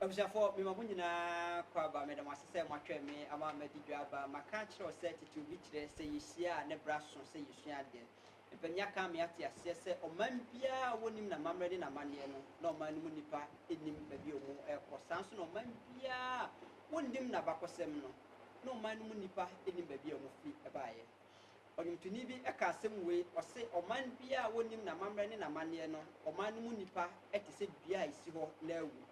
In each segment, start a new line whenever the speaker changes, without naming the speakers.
abusuafoɔ mema mo nyinaa kɔ aba meda mo ase sɛ moatwɛn me ama madi dwa aba maka akyerɛ wo sɛ tete obi kyerɛ sɛ yɛhyia a ne bra so sɛ yɛsua adeɛ mpanin aka me ate aseɛ sɛ ɔman biara a wɔnim n'amammerɛ ne n'amanneɛ no na ɔman no mu nnipa nim baabi a wɔn ɛrekɔ saa nso na ɔman biara a wɔnim n'abakɔsɛm no na ɔman no mu nnipa nnim baabi a wɔfi baeɛ. Ɔnwomtoni bi ka asɛm wei, ɔse, Ɔman biara a wɔnnim n'amammerɛ ne n'amanneɛ no, ɔman no mu nnipa te sɛ dua a ɛsi hɔ na awu.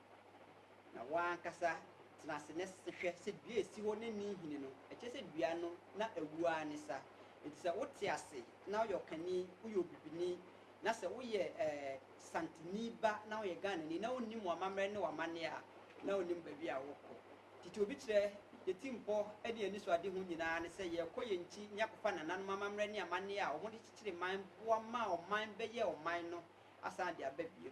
Na wo ara ankasa tena ase na hwɛ sɛ dua a ɛsi hɔ na ɛnni nhini no, ɛkyerɛ sɛ dua no na awu ara ne sa. Enti sɛ wote ase na woyɛ ɔkani, woyɛ obibini, na sɛ woyɛ Santini ba na woyɛ Ghanani na wonnim w'amammerɛ ne w'amanneɛ a, na wonnim baabi a worekɔ. Tete obi kyerɛ, Yɛn tirimpɔ ne yɛn anisoadehu nyinaa ne sɛ yɛrekɔ yɛn nkyi ne akɔfa nananom amammerɛ ne amanneɛ a wɔde kyekyere man boa maa ɔman bɛyɛɛ ɔman no asan de aba bio.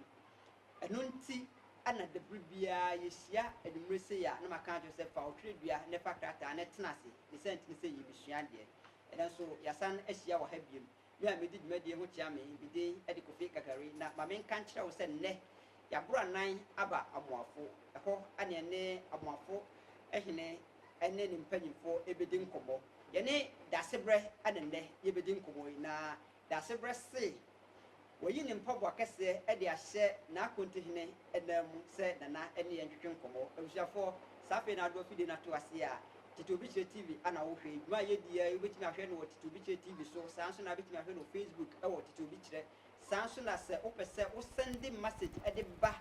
Ɛno nti na da bere biara yehyia anwummere sei a na maka akyerɛ wo sɛ fa wo twerɛdua na fa krataa na tena ase, ne sɛ nti ne sɛ yɛrebɛsua adeɛ. Ɛnnɛ nso yɛasan ahyia wɔ ha bio. Me a medi dwumadie ho kyea me, me din de Kofi Kakari na ma menka nkyerɛ wo sɛ nnɛ yɛaboro anan aba Amoafo hɔ ne yɛne Amoafo hene ne ne mpanyimfoɔ bɛdi nkɔmmɔ. Yɛne Daasebrɛ na nnɛ yɛbɛdi nkɔmmɔ yi na Daasebrɛ se wayi ne mpaboa kɛseɛ de ahyɛ n'akontohene nan mu sɛ Nana ne yɛn ntwetwe nkɔmmɔ. Abusuafoɔ, saa afei na adoɔ fidie no ato aseɛ a Titiriwbikyire TV a na wohwɛ yi, dwuma a yɛdi ara yi wobɛtumi ahwɛ no wɔ Titiriwbikyire TV so, saa nso na wobɛtumi ahwɛ no wɔ Facebook wɔ Titiriwbikyire, saa nso na sɛ wopɛ sɛ wo sɛnde message de ba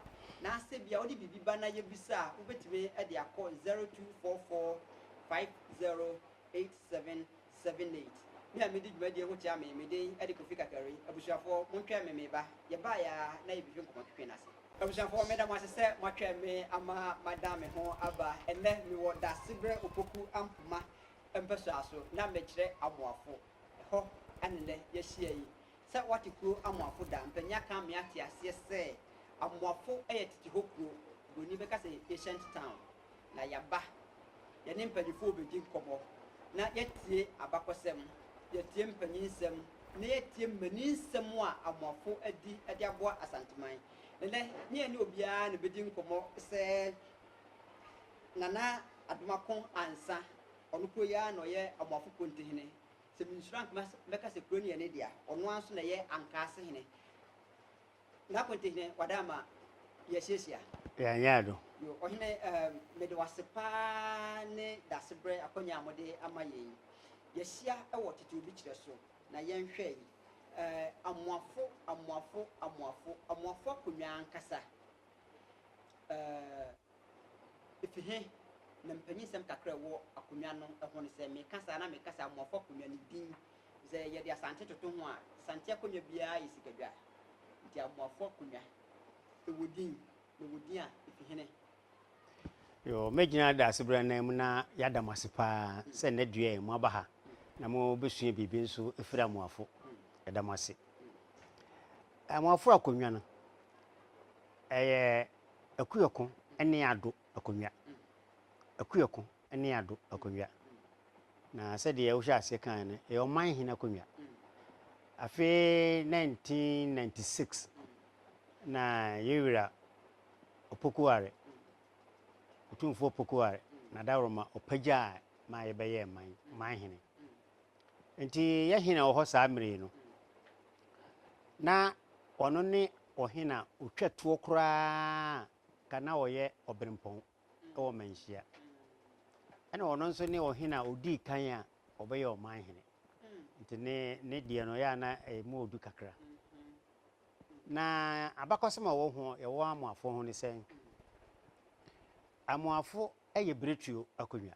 na sɛ bia wode biribi ba na yɛbisa a wobɛtumi de akɔ 0244 5087. Seven Nate, Me a midi dwumadie yi ho kyea me, me din ɛde Kofi Kakari, abusuafoɔ montwɛn me meba, yɛbaeɛ ara na yɛbehwɛ nkɔmɔ twetwe no ase. Abusuafoɔ meda mo ase sɛ moatwɛn me ama madan me ho aba, ɛnnɛ mewɔ Daasebrɛ Opoku Ampoma mpɛsoa so na mekyerɛ Amoafo, ɛhɔ na nnɛ yɛahyia yi. Sɛ woate kuro Amoafo da, mpanin aka ama yɛate aseɛ sɛ Amoafo yɛ tete hɔ kuro, buroni bɛka sɛ ancient town. na yɛaba, yɛne mpanyimfo rebedi nkɔmmɔ, na yɛatie abakɔsɛm, yɛatie mpanyin nsɛm, na yɛatie mmanin nsɛm a Amoafo adi de aboa Asanteman. Nnɛ, ne yɛne obiara na ebedi nkɔmmɔ sɛ Nana Adomako Ansa, ɔno koro yi ara na ɔyɛ Amoafo Pontehene. Sɛ minsuro a, anka mɛka sɛ kuro no yɛ ne dea. Ɔno ara nso na ɛyɛ Ankaase Hene. Ná Konte hene wada ma yɛasuasua. Yɛanyɛ ado.
Yo, Ɔhene, um,
mede wo ase paa ne dasebrɛ akwanya a mode ama yɛn yi. Yɛahyia wɔ tete-obi-kyerɛ so, na yɛnhwɛ yi. Eh, amoafo, amoafo, amoafo, amoafo akonnwa ankasa. Eh. Efi he na mpanyinsɛm kakra a ɛwɔ akonnwa no ho no? Sɛ meka saa na meka sɛ Amoafo Akonnwa no din te sɛ yɛde Asante toto ho a, Asante akonnwa biara yɛ sikadwa. Enti Amoafo Akonnwa, ɛwɔ din, na ɛwɔ din a efi he ne?
Yoo, megyina Daasebrɛ anan mu na yɛada mo ase paa sɛ nnɛ dua yi moaba ha na mobɛsua biribi nso afiri Amoafo. Yɛda mo ase. Amoafo Akonnwa no, ɛyɛ. Akuoko ne Ado akonnwa. Akuoko ne Ado akonnwa. Na sɛdeɛ wohyɛ aseɛ kaeɛ no, ɛyɛ ɔman hene akonnwa. Afe 1996 na yɛn wura Opokuware, Otumfoɔ Opokuware, Nadaworoma ɔpagyaa ma yɛbɛyɛɛ man, man hene. Enti yɛ he na ɔwɔ hɔ saa mmerɛ yi no? Na ɔno ne ɔhe na ɔtwa toɔ koraa ka na ɔyɛ ɔberempɔn wɔ manhyia? Ɛna ɔno nso ne ɔhe na ɔdii kan a ɔbɛyɛ ɔman hene. Nti ne ne deɛ no yɛ ana ɛmu ɔdu kakra. Na abakɔsɛm a ɔwɔ ho yɛwɔ amoafoɔ ho ne sɛn? Amoafo yɛ biretuo akonnwa.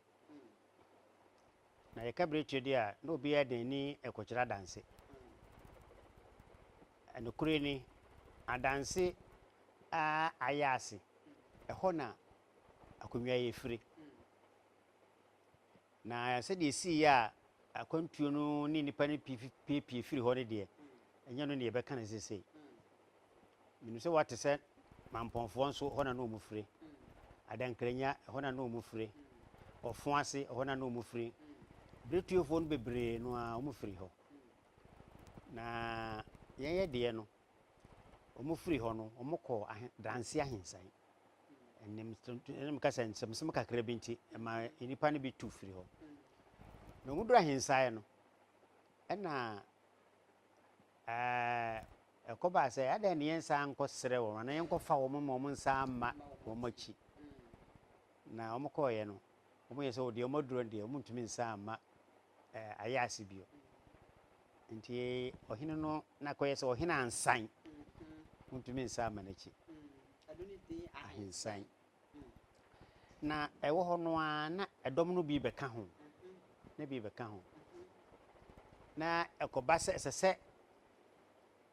Na yɛka bere tire de a, na obiara de n'ani rekɔkyerɛ adanse. Nokorɛ ni, adanse a ayɛ ase, ɛhɔ na akonnwa yi firi. Na sɛdeɛ ɛsiiɛ a akwantuo no ne nnipa no pii piepie firii hɔ no deɛ, ɛnyɛ ɛno na yɛbɛka no seesei. Menim sɛ woate sɛ Mampɔnfoɔ nso ɛhɔ na na wɔn fire. Adankranya ɛhɔ na na wɔn fire. Ɔfon ase ɛhɔ na na wɔn fire. Berɛtuofoɔ no bebree no ara wɔn firi hɔ. Na yɛn yɛ deɛ no wɔn firi hɔ no wɔn kɔ ahe danse ahensan. Ɛnim ɛnim kasa nsɛmsɛm kakra bi nti ɛma nnipa no bi tu firi hɔ. Na wɔn dura ahensan no ɛna ɛɛ. Ɛkɔbaa sɛ, adɛn na yɛnsan nkɔsrɛ wɔn, anaa yɛnkɔfa wɔn mma wɔnsan mma wɔn akyi? Na wɔkɔeɛ no, wɔyɛɛ sɛ, O deɛ, wɔaduro no deɛ, wɔntumi nsan mma ayaase bio. Enti ɔhene no, na kɔyɛ sɛ ɔhene ansan, wɔntumi nsan mma n'akyi.
Ahensan.
Na ɛwɔ hɔ no ara na ɛdɔm no bi bɛka ho, na bi bɛka ho. Na ɛkɔba sɛ ɛsɛ sɛ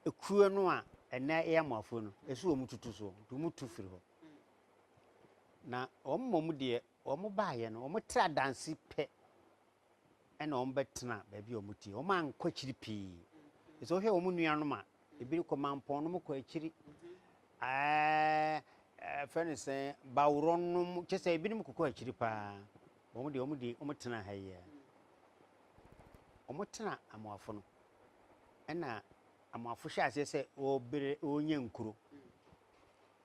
ekuo no a ɛnɛ yɛ Amoafoɔ no, ɛsɛ wɔn tutu soɔ, nti wɔn tu firi hɔ. Na wɔn mmom deɛ wɔn baeɛ no, wɔtra danse pɛ na wɔbɛtena baabi a wɔte. Wɔankɔ akyiri pii. Sɛ wohwɛ wɔn nuanom a, ebi rekɔ mampɔn nom kɔ akyiri. Ɛɛ fɛ no sɛ baworɔ nom kyɛ sɛ ebinom kokɔ akyiri paa. Wɔn deɛ wɔn deɛ wɔtena ha yi a. Wɔtena amoafo no. Ɛna amoafo hyɛ aseɛ sɛ wɔbere wɔnyɛ nkuro.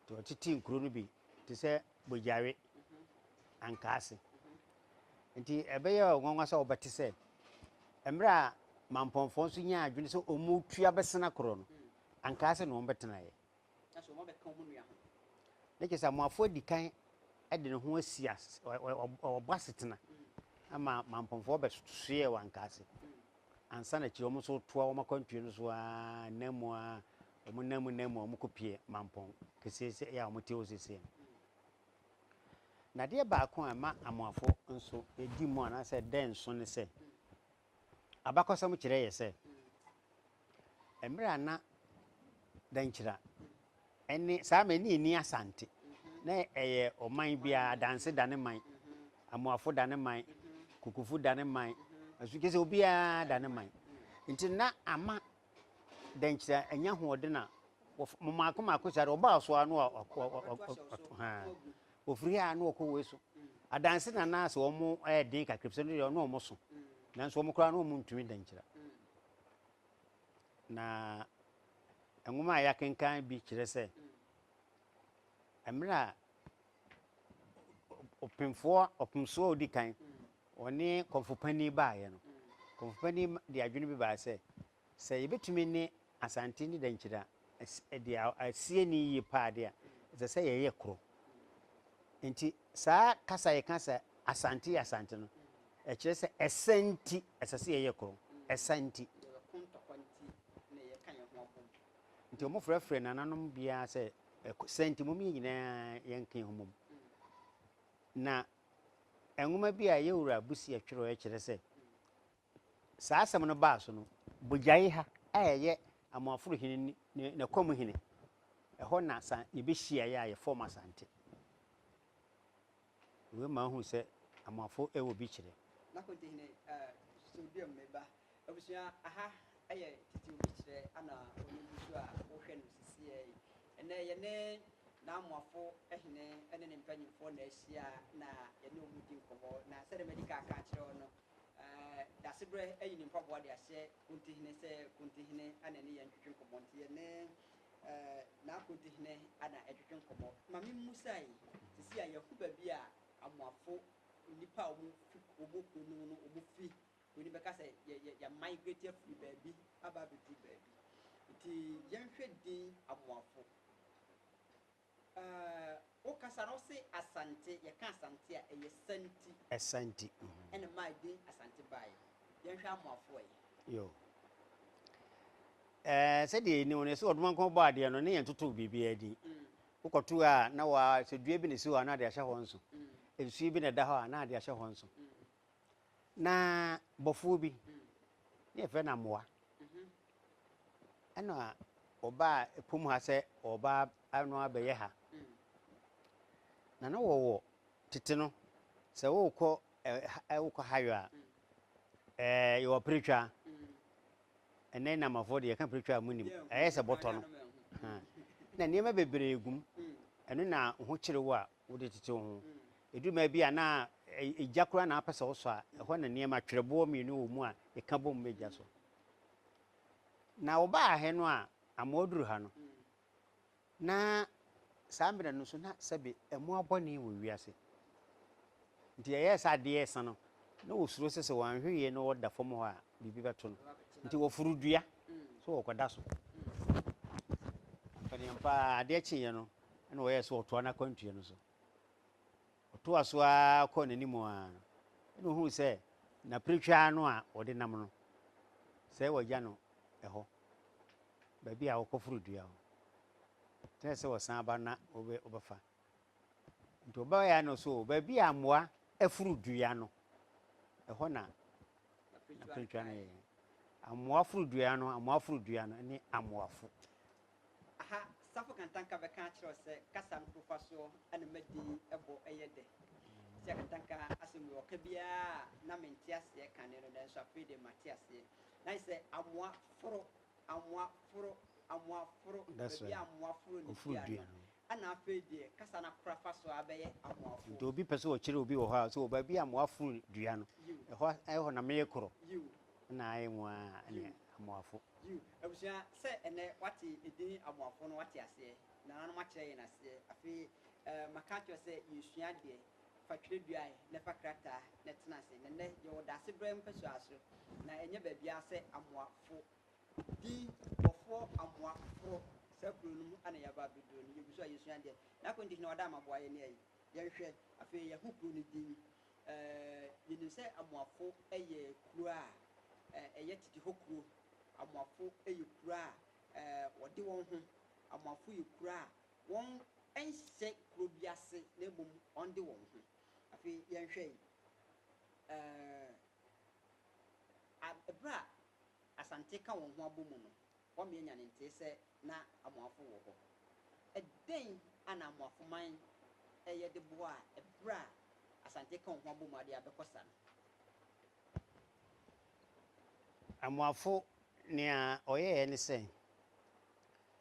Nti wɔtete nkuro no bi te sɛ bogyare ankaase. Enti ɛbɛyɛ nwanwa sɛ wɔbɛte sɛ mmerɛ a mampɔnfoɔ nso nyaa adwene sɛ wɔn tu abɛsena korɔ no, ankaase na wɔbɛtenaeɛ.
Ne kyɛ sɛ
amoafoɔ adi kan de ne ho asi ɔbɔ asetena ama mampɔnfoɔ bɛsoeɛ wɔ ankaase ansa na akyire wɔn nso toa wɔn akwantuo no so aa, nna mu aa, Wɔn nan mu nan mu a wɔkɔpue mampɔn keseese yi a wɔte hɔ seesei no. Nnadeɛ baako a ɛma Amoafo nso di mu anaasɛ ɛda nso ne sɛ, abakɔsɛm kyerɛ yɛ sɛ, mmerɛ a na Dankyira ne saa mmerɛ no na ɛnni Asante, na ɛyɛ ɔman bi ara, Adanse da ne man, Amoafo da ne man, Kukufo da ne man, Asu kyerɛ sɛ obiara da ne man. Nti na ama dɛ nkyerɛ enye ahoɔdzen a wɔf mo maako maako si ara ɔbaa so ara na ɔ ɔ ɔ ɔ ɔ ɔto ha a, ofir ha a na ɔkɔ wei so. Adanse na na sɛ wɔn yɛ den kakra efisɛ ɔno deɛ ɔne wɔn so, nanso wɔn koraa na wɔn ntumi dɛ nkyerɛ. Na nwoma a yɛakenkan bi kyerɛ sɛ, mmerɛ a ɔpemfoɔ ɔpemsoɔ a ɔdi kan Wɔne kɔmfo panyin baeɛ no, kɔmfo panyin de adwene bi baeɛ sɛ, sɛ yɛbɛtumi ne Asante ne Dankyira de asi ani yie pa ara de a, ɛsɛ sɛ yɛyɛ koro. Enti saa kasa a yɛka sɛ Asante yɛ Asante no, ɛkyerɛ sɛ ɛsa nti ɛsɛ sɛ yɛyɛ koro. Ɛsa nti. Nti wɔfrɛfrɛ nananom biara sɛ ɛsa nti mom yɛn nyinaa yɛnka yɛn ho mmom. Na Nwoma bi a Yewura Busia twerɛeɛ kyerɛ sɛ, saa asɛm no baa so no, Bojaiha a ɛyɛ Amoaforo hene ne n'akwam hene, ɛhɔ na sa yɛbɛhyiaeɛ a yɛfɔɔm Asante. Wei ma wohu sɛ Amoafo wɔ bi kyerɛ. Na Konte hene
Sodium ne ba Abusua, aha yɛ tete obi kyerɛ Anna a ɔno gu so a wohwɛ no sesieɛ yi. Ɛnnɛ yɛne Naamoafo hene ne ne mpanyimfoɔ na ahyia na yɛne wɔn di nkɔmmɔ. Na sɛdeɛ madi kan aka akyerɛ wo no, Dasebrɛ ayi ne mpaboa de ahyɛ Kontihene sɛ Kontihene na ɛne yɛn ntwetwe nkɔmmɔ. Nti yɛne Naa Kontihene Anna retwetwe nkɔmmɔ. Ma me mmusae, sesei a yɛahu baabi a Amoafo nnipa a wɔfi wɔn kuro no mu no fi W'ani bɛka sɛ yɛ yɛ yɛ migrate afiri baabi aba abɛduru baabi. Nti yɛnhwɛ din Amoafo. Ɛɛ wo kasa no wose Asante, yɛka Asante a ɛyɛ Santi. Santi.
Ɛna ɛmaa din
Asante baeɛ. Yɛnhwɛ Amoafo ɛ? Yo.
Ɛɛ sɛdeɛ yɛnim no yɛse Ɔdomankɔn bɔɔ adeɛ no ne yɛn totoo biribiara din. Wokɔto a na wa sɛ dua bi na ɛsi hɔ a na de ahyɛ hɔ nso. Nsuo bi na ɛda hɔ a na de ahyɛ hɔ nso. na bɔfoɔ bi ne yɛfrɛ no amoa ɛna ɔbaa ɛpom ha sɛ ɔba ano abɛyɛ ha na na wɔwɔ tete no sɛ wokɔ wokɔ hayo a yɛwɔ peretwa ɛnɛ namafoɔ deɛ yɛka peretwa a mu nim ɛyɛ sɛ bɔtɔ no na nneɛma bebree gum ɛno na ho kyerɛ wo a wode tete ho Ɛduru mmerɛ bi a na gya koraa na wopɛ sɛ wosɔ a, ɛhɔ na nneɛma twerɛboɔ mmienu wɔ mu a ɛka bom ma gya sɔ. Na wɔbaa ha no a, ama wɔduru ha no, na saa mmerɛ no nso na sɛbe mmoa bɔne wɔ wiase. Nti ɛyɛɛ sɛ adeɛ resa no, na wɔsuro sɛ sɛ wɔanhwɛ yie na wɔda fam hɔ a, biribi bɛto no. Nti wɔforo dua sɛ wɔkɔda so. Mpanimfoɔ a adeɛ kyeeɛ no, na wɔyɛɛ sɛ wɔtoa no akwantuo no so. Ɔtoaa so ara kɔɔ n'anim ara, ɛnna ohuu sɛ n'apiritwa ano a wɔde nam no, sɛ wɔagya no hɔ, baabi a wɔkɔforo dua hɔ. Ɛkyerɛ sɛ wɔsan aba na wɔbɛ wɔbɛfa. Nti ɔbaeɛ no so baabi a mmoa aforo dua no, ɛhɔ na n'apiritwa no yɛ. Amoa foro dua no, amoa foro dua no ne amoafo. Aha
Safo Kantanka bɛka akyerɛ wo sɛ kasa no kofa soɔ na madi bɔ yɛ dɛ. Sia Kantanka asɛm wei ɔka biara a na mente aseɛ kane no nanso afei deɛ mate aseɛ. Na ayɛ sɛ amoa foro, amoa foro, amoa foro, That's baabi a right. amoa foro ne Oforo dua dua no no. ɛna afei deɛ kasa no akora fa so ara bɛyɛ amoafo. Nti obi pɛ sɛ ɔkyerɛ
obi wɔ hɔ a, sɛ wɔ baabi a amoa foro dua no, Yiw, ɛhɔ a- ɛhɔ na meyɛ korɔ. yiw, Ɛna ayɛ nwaa yiw. ne amoafo. Yiw, abusua,
sɛ ɛnnɛ woate edin Aboafoɔ no, woate aseɛ. Nananom akyerɛ yɛn aseɛ. Afei eh, maka akyerɛ wo sɛ yɛresua adeɛ. Fa twerɛdua eh, na fa krataa na tena ase. Na nnɛ, yɛwɔ Daasebrɛ mpasuaa so, na ɛnyɛ baabiara sɛ Amoa fo. Din Bɔfoɔ Amoa Foro, saa kuro no mu na yɛaba abɛduru no. Yɛgu so a yɛresua adeɛ. N'akontiki na wada amaboa yɛn ayi. Yɛnhwɛ, afei yɛahu kuro no din. Yɛnim sɛ Amoafo yɛ kuro a ɛyɛ tete hɔ kuro. Amoafo yɛ kuro a wɔde wɔn ho. Amoafo yɛ kuro a wɔnhyɛ kuro bi ase na mmom wɔde wɔn ho. Afei yɛnhwɛ berɛ a Asante ka wɔn ho abɔ mu no, Wɔmmea nya ne ntee sɛ na Amoafo wɔ hɔ. Ɛdɛn a na Amoafo man reyɛ de boaa ɛberɛ a Asante ka wɔn ho abom ade a bɛkɔ sa no?
Amoafo nea ɔyɛeɛ ne sɛ,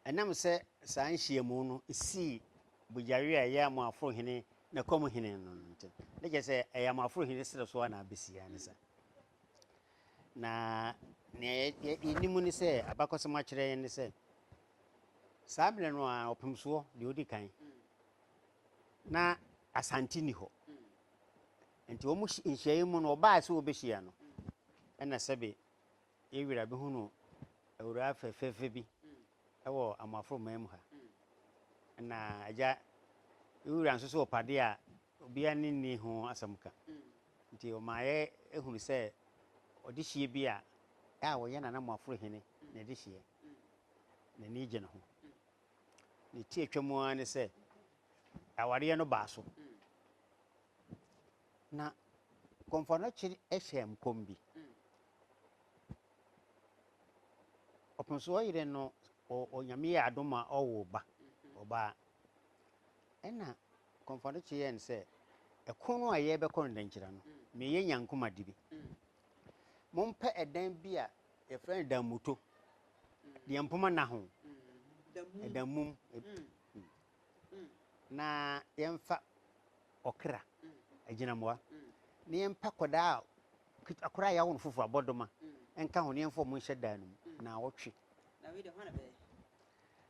ɛnam sɛ saa nhyiamu no sii Bujari a ɛyɛ Amoafo hene Nakom hene no ntam, na kyerɛ sɛ ɛyɛ Amoafo hene serɛ so a na abɛsi ara ne saa. Na nea yɛ yɛ yɛnim ne sɛ abakɔsɛm akyerɛ yɛn ne sɛ saa mmerɛ no a ɔpemsoɔ deɛ ɔdi kan na asante ni hɔ nti wɔn hyi- nhyiaeɛ mu no ɔbaa sɛ wɔbɛhyia no ɛna sɛbe yɛwura bɛhunu awuraa fɛfɛɛfɛ bi ɛwɔ amoaforo man mu ha na agya yɛwura nso so ɔpade a Obiara ani nni ho asɛm ka. Enti ɔma yɛhunu sɛ ɔdehyeɛ bi a a ɔyɛ Nana Moaforo Hene n'adehyeɛ, n'ani gye ne ho. Ne tiatwa mu ara ne sɛ awareɛ no baa so. Na Komfo-Anokye hyɛɛ nkɔm bi. Ɔpemsoɔ yere no, Onyame yɛɛ adom ma ɔwoo ba, ɔbaa. Ɛna kɔmfɔdo kye yɛn sɛ ɛko no a yɛbɛkɔ no dankyira no meyɛ nya nkoma di bi mompɛ ɛdan bi a yɛfrɛ no damuto deɛ mpoma na ho ɛdan mum na yɛmfa ɔkra agyinamoa na yɛmpa kɔdaa akora a yɛawo no foforɔ abɔdoma nka ho na yɛmfa ɔmo nhyɛ dan no mu na awɔtwe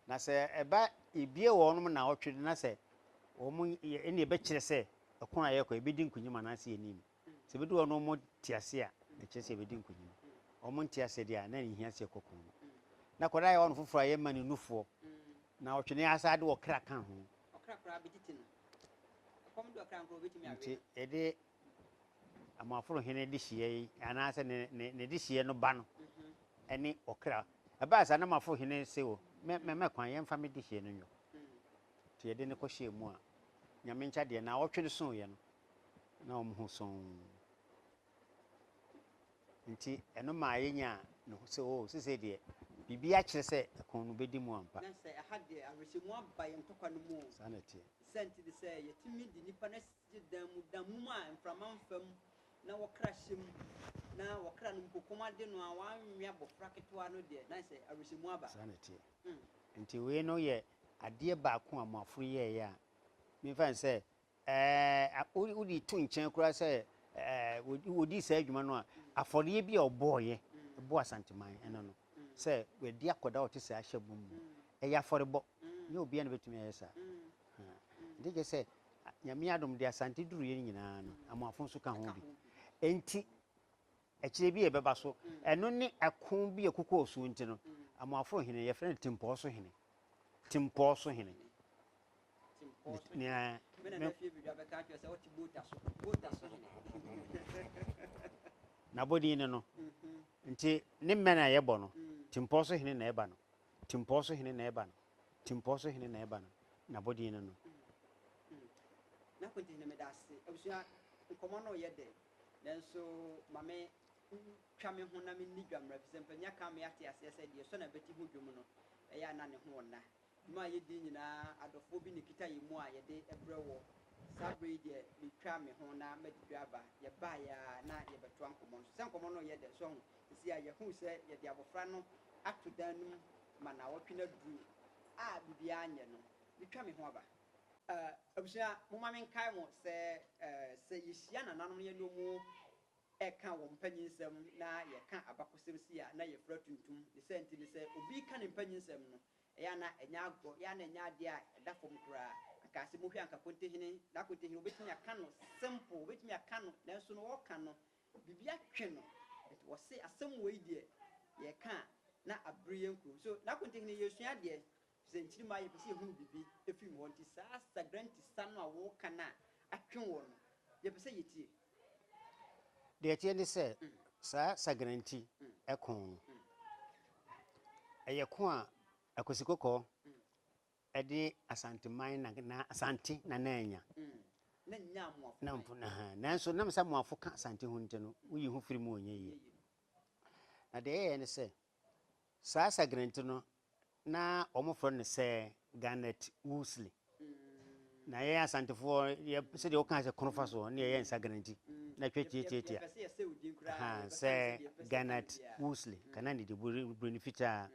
Na sɛ
ɛba yɛbue wɔn nom naawɔtwe no na sɛ wɔn yɛ ɛnna ɛbɛkyerɛ sɛ ɛko a yɛrekɔ yɛbɛdi nkunyim anaasɛ yɛnni mu. Sɛ ɛbɛdu hɔ no wɔn te aseɛ a ɛkyerɛ sɛ yɛbɛdi nkunyim. Wɔn nte aseɛ deɛ a na ɛnhia sɛ yɛkɔ ko no. Na akwadaa yɛ wɔn foforɔ a yɛmma no nufoɔ. Naawɔtwe no yɛasan de ɔkra ka ho. Ɔkra koraa bɛtete
no. Ɛkɔm de ɔkra nkorɔ wɔbɛtumi awe no. Nti yɛde
Amoaforo hene dehyeɛ yi, anaasɛ ne, ne, ne dehyeɛ no ba no, ɛne ɔkra. Ɛbaa saa na Amoaforo hene se, O, mɛ, mɛ, mɛ kwan, yɛmfa me dehyeɛ no nyɔ. Nti yɛde no kɔhyɛɛ mu a, Nyame nkyɛ adeɛ, naawɔtwe no soeɛ no, na wɔn ho sɔnn. Nti ɛno maa yɛnyaa no sɛ, O, sesei deɛ, biribi akyerɛ sɛ ɛko no bɛdi mu ampa. Na sɛ ɛha deɛ,
awerɛhyɛmu aba yɛn ntɔkwa no mu o. Saa na ɛteɛ. Saa nti
ne sɛ
yɛtumi de nnipa no asi. gye dan mu da mum a mframa mfa mu na wɔkra hyɛ mu na wɔkra no mpo kɔm ade no a wɔanwe abɔfra ketewa no deɛ, na ɛsɛ awerɛhyɛmu aba. Saa na ɛteɛ.
Enti wei no yɛ adeɛ baako a Amoafoɔ yɛeɛ a memfa no sɛ ɛɛ wode to nkyɛn koraa sɛ ɛɛ wɔdii saa adwuma no a, afɔreɛ bi a wɔbɔeɛ bɔɔ Asanteman ɛno no sɛ wɔadi akɔdaa a ɔte saa hyɛ bɔ mu no, ɛyɛ afɔrebɔ. Ɛnyɛ obiara na ɔbɛtumi ayɛ saa. Nti kyerɛ sɛ Nyame adom deɛ Asante duruiɛ no nyinaa no Amoafo nso ka ho bi. Nti akyire bi a ɛbɛba so ɛno ne ɛko bi a ɛko kɔɔ suo nti no Amoafo hene yɛfrɛ no Tempɔɔ so hene. Tempɔɔ so hene. Nea n'abɔdin ne no. Nti ne mmɛ no a yɛbɔ no Tempɔɔ so hene na ɛba no. Timpɔɔ so hene na ɛba no. Timpɔɔ so hene na ɛba no. N'abɔdin no no.
N'abɔdin no meda ase. Abusua, nkɔmmɔ no reyɛ dɛ, nanso ma me ntwa me ho na menni dwa mmra, efisɛ mpanyin aka ama yɛate aseɛ sɛ deɛ ɛsɔ n'abati ho dwom no, ɛyɛ a na ne ho nna. Dwuma a yɛdi nyinaa, adɔfoɔ bi na ɛkita yɛn mu a yɛde brɛ wɔ. Saa berɛ yi deɛ, metwaa me ho na madi dwa aba. Yɛbaeɛ ara na yɛbɛtoa nkɔmmɔ no so. Sɛ nkɔmmɔ no reyɛ dɛ, so ahu, Esi a yɛahu sɛ yɛde abofra no ato dan no mu ma naawɔtwe no aduru a biribiara nyɛ no, mitwa me ho aba. Eh, abusua, momma menkae mo sɛ, eh, sɛ yehyia nananom na yɛne wɔn reka wɔn mpanyinsɛm na yɛka abakɔsɛm si a, na yɛfura tuntum. Ne saa nti no, sɛ obi reka ne mpanyinsɛm no, ɛyɛ a na ɛnyɛ agorɔ, ɛyɛ a na ɛnyɛ ade a ɛda fam koraa. Anka sɛ mohwɛ anka Kontehene, na Kontehene, wobetumi aka no simple, wobetumi aka no, nanso no ɔreka no, Biribi atwe no nti wɔse asɛm wei deɛ yɛka a na abere yɛn kurom so n'akontehene yɛresua adeɛ firi sɛ nkyiri ma yɛpɛ sɛ yɛhunu biribi firi mu hɔ nti saa sagranti sa no a woka no a atwe woɔ no yɛpɛ sɛ yɛtie.
Deɛ ɛteɛ ne sɛ saa sagranti ko no ɛyɛ ko a Akwasi Kɔkɔɔ Ɛde Asanteman na na Asante na na anya. Na nnya
Amoafo. Na mpo na ha. Nanso
nam sɛ Amoafo ka Asante ho nti no, woyi ho firi mu wɔ nyɛ yie. Na deɛ ɛyɛeɛ ne sɛ, saa Sagrenti no, na wɔfrɛ no sɛ Garnet Wolseley. Na yɛn Asantefoɔ, yɛ, sɛdeɛ wokaa sɛ Konofa soɔ, ne yɛyɛ no Sagrenti. Na twa tiatiatia. Ha, sɛ Garnet Wolseley, ka na ne de bur, buroni fitaa.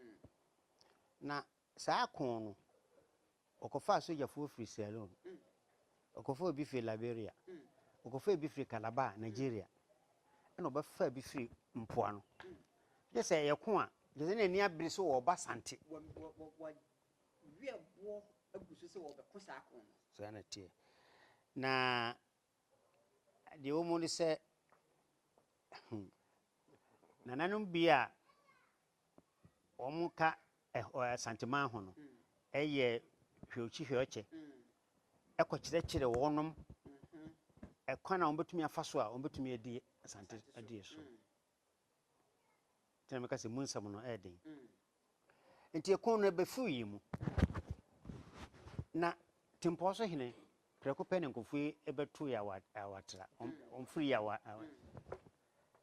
Na Saa ko no, wɔkɔfaa sogyafoɔ firii Sierra Leone, wɔkɔfaa obi firii Liberia, wɔkɔfaa bi firii Calabar, Nigeria, ɛna wɔbɛfaa bi firii mpoano. Kyɛ sɛ ɛyɛ ko a, kyɛ sɛ na ani abere sɛ wɔreba Asante. Wɔwɛboɔ
agu so sɛ wɔbɛko saa ko no. Saa na ɛteɛ.
Na deɛ ɛwɔ mu ne sɛ, hmm, nananom bi a Wɔka ɛhɔ Asanteman ho no yɛ hweɔkyi hweɔkyɛ kɔkyerɛkyerɛ wɔnom kwan a wɔbɛtumi afa so a wɔbɛtumi adi Asante adie so. Nti na meka sɛ mu nsɛm no yɛ den. Nti ɛko no ɛbɛfiri yi mu. Na Tempɔɔ so hene prɛko pɛ ne nkurɔfoɔ yi bɛto yɛ awɔ awɔ atra. Wɔn firi yɛ awɔ awɔ.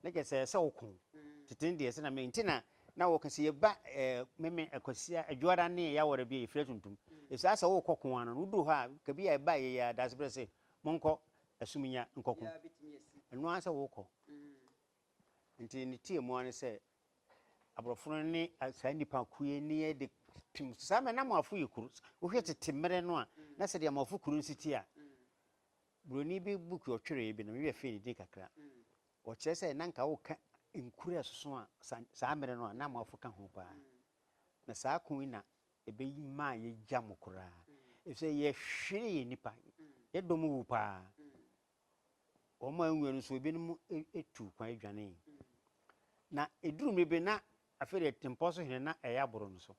Na kyerɛ sɛ ɛsɛ sɛ ɔko. Tete no deɛ, sɛnea me, nti na na wɔka sɛ, Yɛba ɛɛ, me, me, Akwasia, Adwoada ne Yawɔrɛ bi a, yɛfiri Atuntum. Ɛfiri sɛ, asɛ worekɔ ko ara no, woduru hɔ a, ka bi a ɛba a ɛyɛ yɛ ara, Daasebrɛ se, Monkɔ Asumnya nkɔko. Ɛno ara sɛ worekɔ. Nti ne teɛ mu ara ne sɛ, Aborɔfo no ne saa nnipa ko yi ne yɛ de tim. Saa mmerɛ no, na Amoafo yɛ kuro. Wohwɛ tete mmerɛ no a, na sɛdeɛ Amoafo kuro no si teɛ a, Buroni bi book ɔtweree bi no, me werɛ fii ne din kakra. Ɔkyerɛ sɛ na nka woka nkuro a ɛsoso a, saa mmerɛ no a, na amoafo ka ho paa. Na saa ko yi na ɛbɛ maa yɛgya mo koraa. Ɛfisɛ yɛhweree yɛn nnipa. Yɛn dɔm wu paa. Wɔn a anwuo no nso, ebinom tuu kwan dwanee. Na ɛduru mmerɛ bi na afei deɛ Tempɔn so hene na ɛyɛ aboro no so.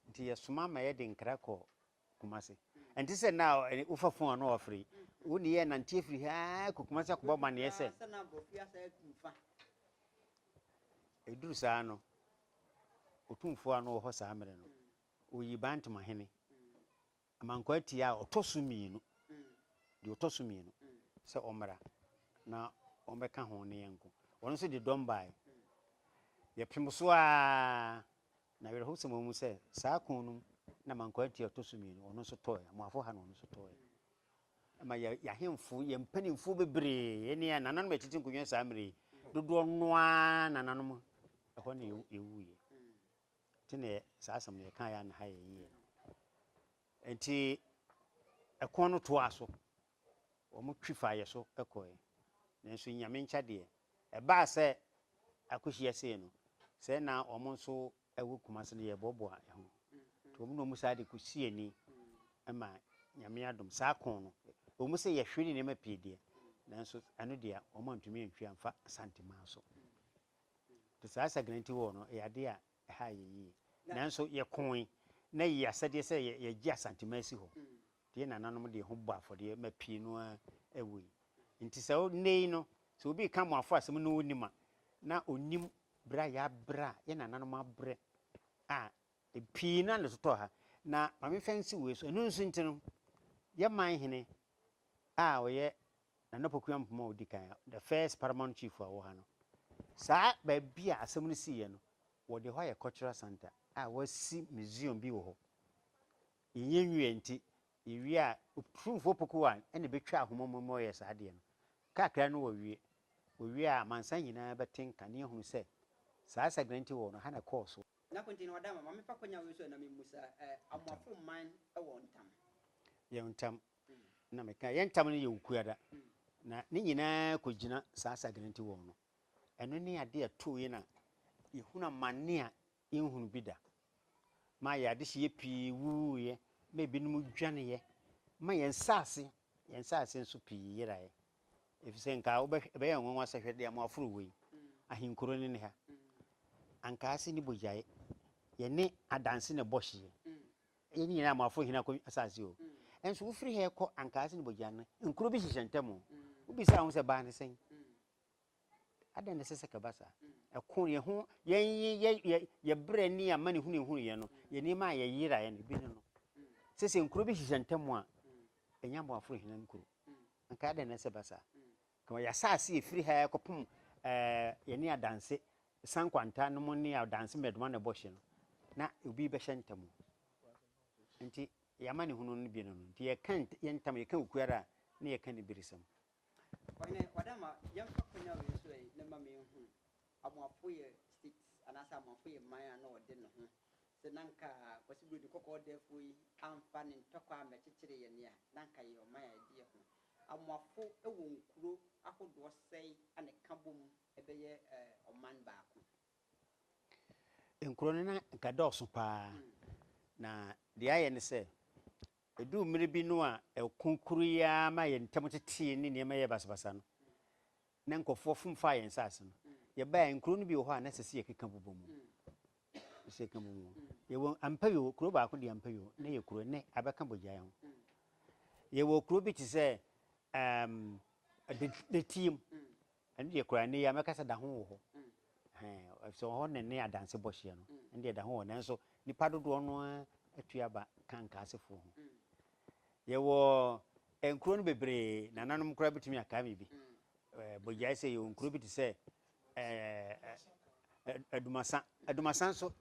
Nti yɛsoma ma yɛde nkra kɔɔ Kumase. Ɛnte sɛ nna a wofa fon a na wɔafrɛ yi. Wo ne yɛ nante afiri ha kɔ Kumase akɔbɔ amanneɛ sɛ. Ɛduru saa no, otumfoɔ a na ɔwɔ hɔ saa mmerɛ no, ɔyi Bantama hene Amankwaa Tia a ɔtɔ so mmienu, deɛ ɔtɔ so mmienu, sɛ ɔmmra na wɔmmɛka ho ne yɛn nko. Ɔno nso de dɔm baeɛ. Yɛpem so ara. Na awerɛhosɛm a ɛwɔ mu sɛ saa ko no mu na ma nkwaati a ɛtɔ so mmienu ɔno nso tɔɔɛ, Amoafo ha na ɔno nso tɔɔɛ. Ɛma yɛ yɛ ahemfo, yɛ mpanimfoɔ bebree ne yɛ nananom a ɛtete nkonnwa saa mmerɛ yi dodoɔ no ara nananom ɛhɔ na yɛwuiɛ. Nti na yɛ saa asɛm no yɛkaeɛ a na ha yɛ yie no. Nti ɛko no toaa so. wɔn twi faa yɛ so kɔe. Nanso Nyame nkyɛ deɛ, ɛbaa sɛ akɔhyia sei no, sɛ na wɔn nso wɔ Kumase no, yɛboaboa yɛ ho. Nti wɔn na wɔn saa de kɔsii ani ma Nyame adom saa kɔn no, ɛwom sɛ yɛhwere nneɛma pii deɛ, nanso ɛno deɛ wɔn antumi antwi amfa Asante man so. Nti saa Sagina nti wɔɔ no, ɛyɛ adeɛ a Ɛhaa yɛn yiye. Nanso yɛkooe, na yɛyɛ asɛdeɛ sɛ yɛgye Asantema asi hɔ. Yɛn nananom de ho bɔɔ afɔdeɛ ma pii no ara wui. Enti sɛ nnɛ yi no, sɛ obi reka Amoafo asɛm na ɔnnim a, na ɔnnim berɛ a yɛabrɛ a, yɛn nananom abrɛ a, pii no ara na ɛtotɔɔ ha. Na ma memfa nsi wei so, ɛno nso nti no, yɛn man hene a ɔyɛ Nana Poku Ampoma a odi kan, the first Paramount Chief a ɔwɔ ha no, saa baabi a asɛm no siiɛ no, wɔde hɔ ayɛ cultural centre a wɔasi museum bi wɔ hɔ. Yɛnyɛ nwieɛ nti, yɛwie a, Otumfoɔ Poku I na ɛbɛtwa ahoma mu ma wɔyɛɛ saa adeɛ no. Kakra no wɔwie. Wɔwie a, amansan nyinaa bɛte nka na yɛahunu sɛ, saa Asagena nti wɔwɔ no, ha na ɛkɔɔ so. Na kwan nti no, ɔda ma
ma memfa kwanya wei so na memmu saa, Amoafo man wɔ ntam? Yɛwɔ ntam.
na meka, yɛn ntam no yɛ okuada, na ne nyinaa kogyina saa Sagrantywɔn no. Ɛno ne ade a ɛtoo yɛn a yɛhunu amane a yɛnhunu bi da, ma yɛn adehyeɛ pii wuwuiɛ, ma ebinom dwaneeɛ, ma yɛn nsase, yɛn nsase nso pii yeraeɛ. Ɛfiri sɛ nka wobɛhwɛ, ɛbɛyɛ nwanwa sɛ hwɛ deɛ mo aforo wei, ahenkuro no ne ha. Anka ase ne bogyaeɛ, yɛne adanse na ɛbɔ hyeɛ. Yɛn nyinaa moafo hena kɔ asase o nso wofiri ha rekɔ ankaase ne bogyan no nkuro bi hyehyɛ ntam o wobisaa ho sɛ baa ne sɛn adɛn na ɛsɛ sɛ kɛba saa ɛko yɛn ho yɛn yɛ yɛ yɛ brɛ ne ama ne hunu ehunu yɛn no yɛ nneɛma a yɛyera yɛn ebi ne no sɛ sɛ nkuro bi hyehyɛ ntam a ɛnya moafo hena nkuro anka adɛn na ɛsɛ ba saa Na wɔyɛ asaase a ɛfiri ha kɔpem yɛne adanse sankwanta no mo ne adanse mmerɛdoma no bɔ hye no, na obi bɛhyɛ ntam o, nti yɛn amanehunu no bi no no, nti yɛka yɛn ntam, yɛka okuara a, na yɛka aniberesɛm. Ɔhene,
w'adamma, yɛmfa kwan a wei so ɛ, na ma menhunu. Amoafoyɛ states anaasɛ Amoafoyɛ man a na ɔde ne ho sɛ na nka Kwasi Buroni Kɔkɔɔ Ɔdɛɛfoɔ yi amfa ne ntɔkwa ammɛkyekyere yɛn a, na nka yɛyɛ ɔman a ɛde yɛn ho. Amoafo wɔ nkuro ahodoɔ sɛn a na ɛka bom bɛyɛ ɔman baako?
Nkuro no na nka ɛdɔɔso pa ara. Na deɛ ayɛ ne sɛ, Eduu mmere bi no a ɛko koro yi ara ma yɛn ntam tetee ne nneɛma yɛɛ basabasa no, na nkurɔfoɔ fom faa yɛn nsaase no. Yɛbaeɛ a, nkuro no bi wɔ hɔ a na ɛsɛ sɛ yɛkeka bobɔ mu. Ɛsɛ sɛ yɛka bobɔ mu. Yɛwɔ Ampayo, kuro baako de Ampayo, na ɛyɛ kuro, ɛnnɛ abɛka bogyaeɛ ho. Yɛwɔ kuro bi te sɛ ɛɛm, Detiam, Ɛno deɛ koraa nnɛ yi ara mɛka sɛ da ho wɔ hɔ. Ɛhɛn, efisɛ ɛhɔ na ɛne adanse bɔ hyeɛ no. Ɛno deɛ da ho wɔ hɔ. Nanso nnipa dodoɔ no ara atu aba ka Nkaasefoɔ ho. Yɛwɔ nkuro no bebree, nananom koraa bɛtumi akae me bi. Ɛɛ, bogyae sɛ yɛwɔ nkuro bi te sɛ ɛɛ, Adumasa. Adumasa nso,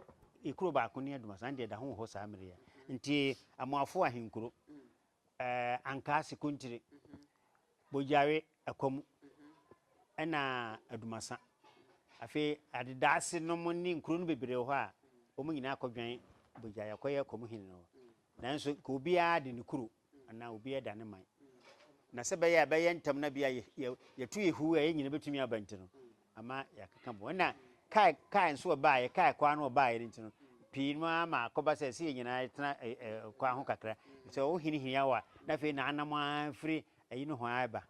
kuro baako ne Adumasa. Ɛno deɛ da ho wɔ hɔ saa mmerɛ yi ara. Nti, Amoafoɔ ahenkuro, Ankaa Sekontiri, Bogyawe Akwamu ɛna Adumasa. Afei Adedaase nom ne nkuro no bebree wɔ hɔ a wɔn nyinaa kɔ dwan Bogyawe akɔ yɛ Akwamu hene no hɔ. Nanso nka obiara de ne kuro anaa obiara da ne man. Na sɛ ɛbɛyɛ a ɛbɛyɛ ntɛm na bi a yɛ yɛ yɛto yɛ huo a yɛn nyinaa bɛtumi aba nti no Ama yɛakeka bɔ. Ɛna kae kae nso ɔbaeɛ, kae kwaa no ɔbaeɛ no nti no, pii no ara ma akɔba sɛ ɛsɛ yɛn nyinaa yɛtena ɛ ɛ kwaa ho kakra. Sɛ wohinihini awo a, na afei na anam ara firi ayi nohoa reba.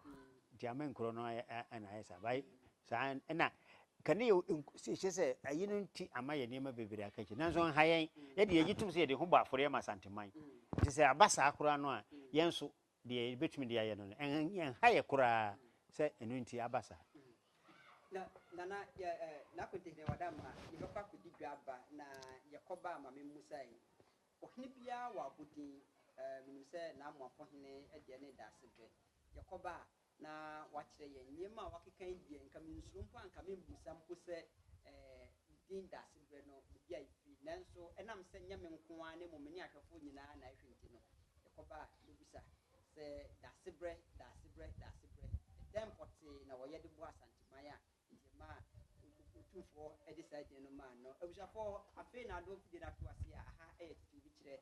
Nti ama nkuro no ayɛ ɛ na ayɛ saa. Ba saa ɛna kane yɛ nku kyerɛ sɛ ayi no nti ama yɛn nneɛma bebree aka akyire. Nanso ɛnha yɛn. Yɛde yɛgye tom sɛ yɛde ho bɔ afɔreɛ ma Asanteman. Nti sɛ aba saa koraa no a, yɛn nso Deɛ yɛbɛtumi de ayɛ no no, ɛnha yɛ koraa sɛ ɛno nti aba saa. Na Nana, yɛ
N'akontehene wada mma, yɛbɛkɔ akɔdi dwa aba, na yɛkɔ baa ma memmusae, ɔhene biara wɔ abodin, menim sɛ N'amoafoɔ hene deɛ ne Daasebɛ, yɛkɔ baa na wakyerɛ yɛn nneɛma a wakeka yi deɛ, anka mensuro mpo a anka memmisa mpo sɛ ne din dasebrɛ no baabi a ɛfiri. Nanso ɛnam sɛ nyɛ me nko ara na mmom me ne ahwɛfoɔ nyinaa na ɛhwɛ nti no, yɛkɔba a yɛbisa sɛ Dasebrɛ, Dasebrɛ, Dasebrɛ, ɛdɛn pɔtee na wɔyɛ de boa Asanteman a enti ɛmaa Otumfoɔ de saa din no maa no? Abusuafoɔ, afei na adɔɔfodie no ato aseɛ a aha yɛ tete obi kyerɛ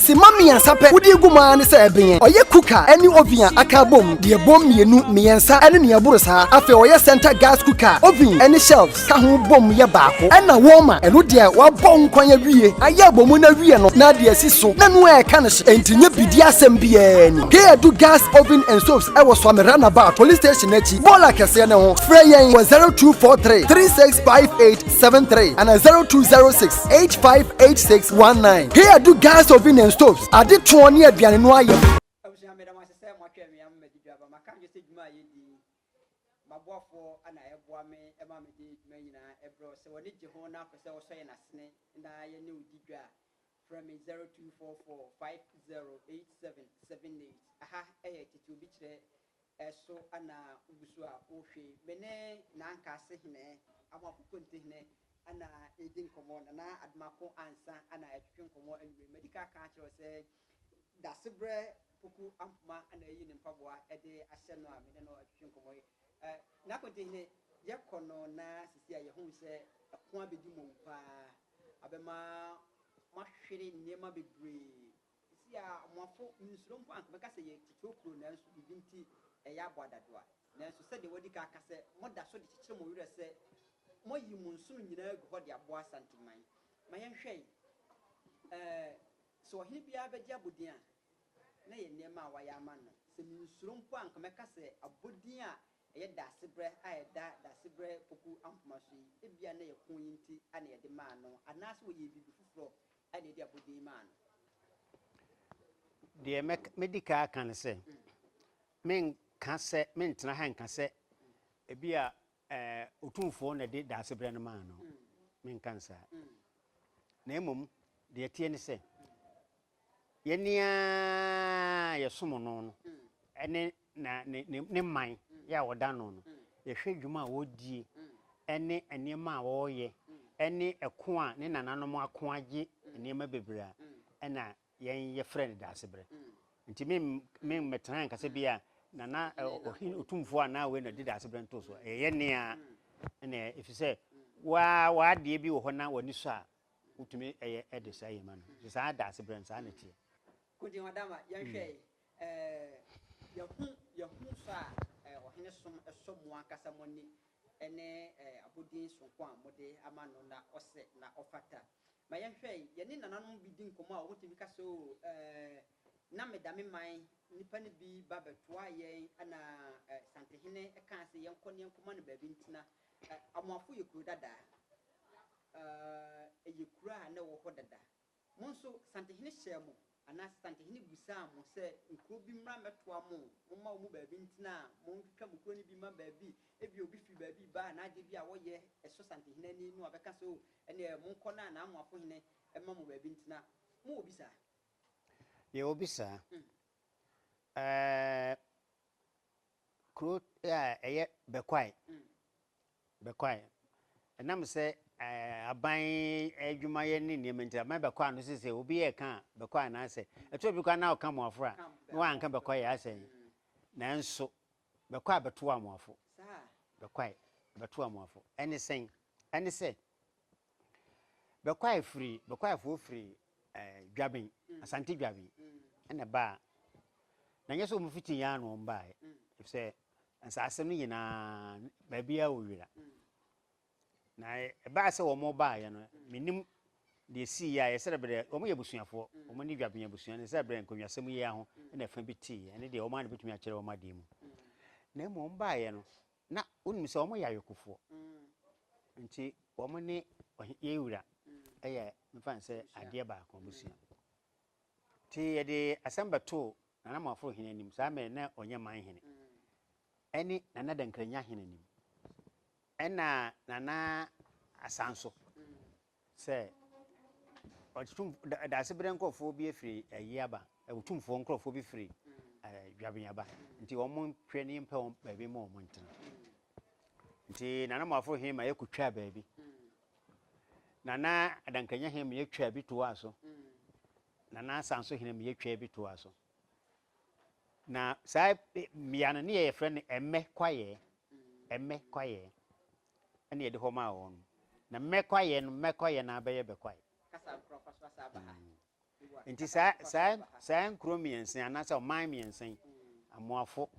Simma mmiɛnsa pɛ wode gu mu ara ne sɛ ɛbenyɛ. Ɔyɛ cooker ne oven a aka abom, deɛ ɛbom mmienu, mmiɛnsa ne nea ɛboro saa. Afei ɔyɛ center gas cooker a oven ne shelves ka ho bom yɛ baako. Ɛnna warmer, ɛno deɛ wɔabɔ ho kwan awie, ayɛ abom no awie no, na ade asi so, na ɛno ara ɛka no hye. Enti nyɛ bidie asɛm biara ni. Hei adu Gas Oven and Stoves wɔ Suame Roundabout, Police Station no akyi, bɔɔla kɛseɛ no ho. Frɛ yɛn wɔ 0243 365873 anaa 0206. 858619 He adu gas oven and stoves ade toɔ ne aduane no ayɛ maboafoɔ na ɛboa me
ma mede adwuma nyinaa ɛbrɛ sɛ wɔne gye ho na apɛ sɛ wɔsɔ yɛn asene na yɛne wo di dwa frɛ me 0244 508778 aha ɛyɛ tete obi kyerɛ Eso ana wogu so a worehwe me ne Nankase hene, Amoako Konte hene ana redi nkɔmmɔ, Nana Adomako Ansa ana ɛretwetwe nkɔmmɔ anwummerɛ yi. Madi kan aka akyerɛ wo sɛ Dasebrɛ Poku Ampoma ana ayi ne mpaboa de ahyɛ no a me ne no retwetwe nkɔmmɔ yi. Na Konte hene, yɛkɔ no na sisi a yɛahu sɛ ɛko abɛdi mmɔwu paa, abɛma moahwere nneɛma bebree Sisi a Amoafo nsuro mpo a anka wɔbɛka sɛ yɛ titiriw kurow nanso biribi nti ɛyɛ abɔ adadoa. Nanso sɛdeɛ wɔadi kan aka sɛ moda so de kyekyere mo werɛ sɛ moayi mo nsono nyinaa agu hɔ de aboa Asanteman. Ma yɛnhwɛ eh, sɛ ɔhene biara bɛgye abɔdin a na ɛyɛ nneɛma a wɔayɛ ama no. Sɛ mensuro mpo a anka mɛka sɛ abɔdin a ɛyɛ Daasebrɛ a ɛda Daasebrɛ Poku Ampoma so yi, ebia na ɛyɛ ko yi nti na yɛde maa no anaasɛ wɔyɛɛ biribi foforɔ ɛna ɛde
abodin maa no. Deɛ mɛdi kan aka ne sɛ, menka sɛ, mentena ha nka sɛ ebi a Otumfoɔ na ɛde daasebrɛ no maa no. Menka nsaa. Na mmom, deɛ ɛteɛ ne sɛ, yɛn a yɛsom no no ne na ne ne ne man yɛ a wɔda no no, yɛhwɛ adwuma a wɔredie ɛne nneɛma a wɔreyɛ ɛne ɛko a ne nananom ako agye nneɛma bebree a ɛna yɛn yɛfrɛ no Daasebrɛ. Nti me me mmɛtena anka sɛ bi a nana ɔhene otumfoɔ anaa wei na ɔde Daasebrɛ nto so. Ɛyɛ yɛn nne ara ɛna ɛyɛ ɛfiri sɛ waa w'adeɛ bi wɔ hɔ na w'ani sɔ a wotumi ɛyɛ ɛde saa yɛ ma no. Nti saa Daasebrɛ no saa na ɛteɛ. Kojo Adama,
yɛnhwɛ Yɛahu yɛahu sɔ a Ɔhene som sɔ mo ankasa mo ani ne abodin soronko a mode ama no na ɔsɛ na ɔfata. Ma yɛnhwɛ, yɛne nananom bi di nkɔmmɔ a wɔtumi ka sɛ, Oo, na meda me man nnipa no bi ba bɛtoaa yɛn na Santehene kaa sɛ yɛnkɔ na yɛnkɔma no baabi ntena. Amoafo yɛ kuro dada, ɛyɛ kuro a na ɛwɔ hɔ dada. Mo nso, santehene hyɛɛ mo, anaasɛ santehene bisaa mo sɛ nkuro bi mmra mmɛtoa mo, momma wɔn mu baabi ntena a, montwitwa mo kuro no bi mma baabi. Ebia obi firi baabi reba a n'adeɛ bi a wɔyɛ sɔ santehene ani na wabɛka sɛ, O, ɛnneɛ monkɔ na n'amoafo hene mma mo baabi ntena. Mowɔ bi saa? Yɛwɔ
bi saa. Ɛɛ, Kuro a ɛyɛ Bekwai, Bekwai. Ɛnam sɛ aban adwumayɛ ne nneɛma nti, aban Bekwai no sese obi yɛ ka a, Bekwai na asɛ. Ɛtɔ obi koraa na ɔka Amoafo a, na wanka Bekwai yɛ asɛ. Nanso Bekwai bɛto Amoafo. Bekwai bɛto Amoafo. Ɛne sɛn? Ɛne sɛ. Bɛkɔae firi, Bɛkɔaefoɔ firi eh, Dwaben, Asante Dwaben, ɛna ɛbaa. Na nyɛ sɛ wɔn fiti Yan na wɔn baaɛ, efisɛ nsaase no nyinaa, baabiara wɔ wira. Na ɛbaa sɛ wɔn baaeɛ no, menim deɛ sii yɛ a, yɛsɛ berɛ, wɔn yɛ abusuafoɔ, wɔn ne Dwaben abusua, na ɛsɛ berɛ nkonnwasɛm yi ara ho na ɛfa bi tee, ɛne deɛ wɔn ara na bɛtumi akyerɛ wɔn adeɛ mu. Na mmom wɔn baaeɛ no, Na wonim sɛ wɔyɛ ayɔkofoɔ, nti wɔn ne ɔhe yɛn wura yɛ mefa no sɛ adeɛ baako, abusua. Nti yɛde asɛm bɛtoo Nana Moaforo Hene anim, saa mmerɛ na ɔnyɛ man hene, ɛne Nana Dankranya Hene anim, ɛna Nana Asanso. Sɛ ɔtum da Daasebrɛ nkorɔfoɔ bi firi ayie aba, ɔtumfoɔ nkorɔfoɔ bi firi dwabin aba, nti wɔn hwɛ ne yɛmpɛ wɔn baabi mma wɔn ntena. Nti Nana Moafo he ma yɛkɔtwaa baabi. Nana Adankanya he ma yɛtwaa bi toaa so. Nana Asanso he ma yɛtwaa bi toaa so. Na saa mmea no ne yɛ yɛfrɛ no Ɛmmɛ Kwayɛɛ. Ɛmmɛ Kwayɛɛ. ɛna yɛde hɔ maa wɔn na mmɛkwaeɛ no mmɛkwaeɛ na abɛyɛ bɛkwae
nti
saa saa saa nkuro mmiɛnsa anaasɛ ɔman mmiɛnsa yi amoafo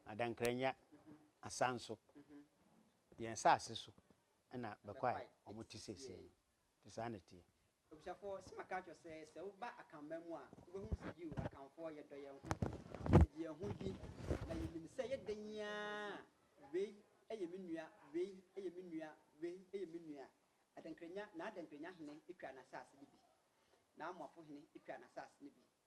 adankranya asanso yɛn saase so ɛna bɛkwae wɔn ti siesie no. Te saa na ɛteɛ. Abusuafoɔ, sɛ maka
akyerɛ wo sɛ, sɛ woba Akanman mu a, wobɛhunu sɛ yiw, Akanfoɔ, yɛdɔ yɛn ho, yɛdi yɛn ho bi, na yɛnim sɛ ɛyɛ dɛn ara a, wei yɛ me nua, wei yɛ me nua, wei yɛ me nua. Adankrenya, n'adankrenya hene twa n'asase no bi. N'Amoafo hene twa n'asase no bi.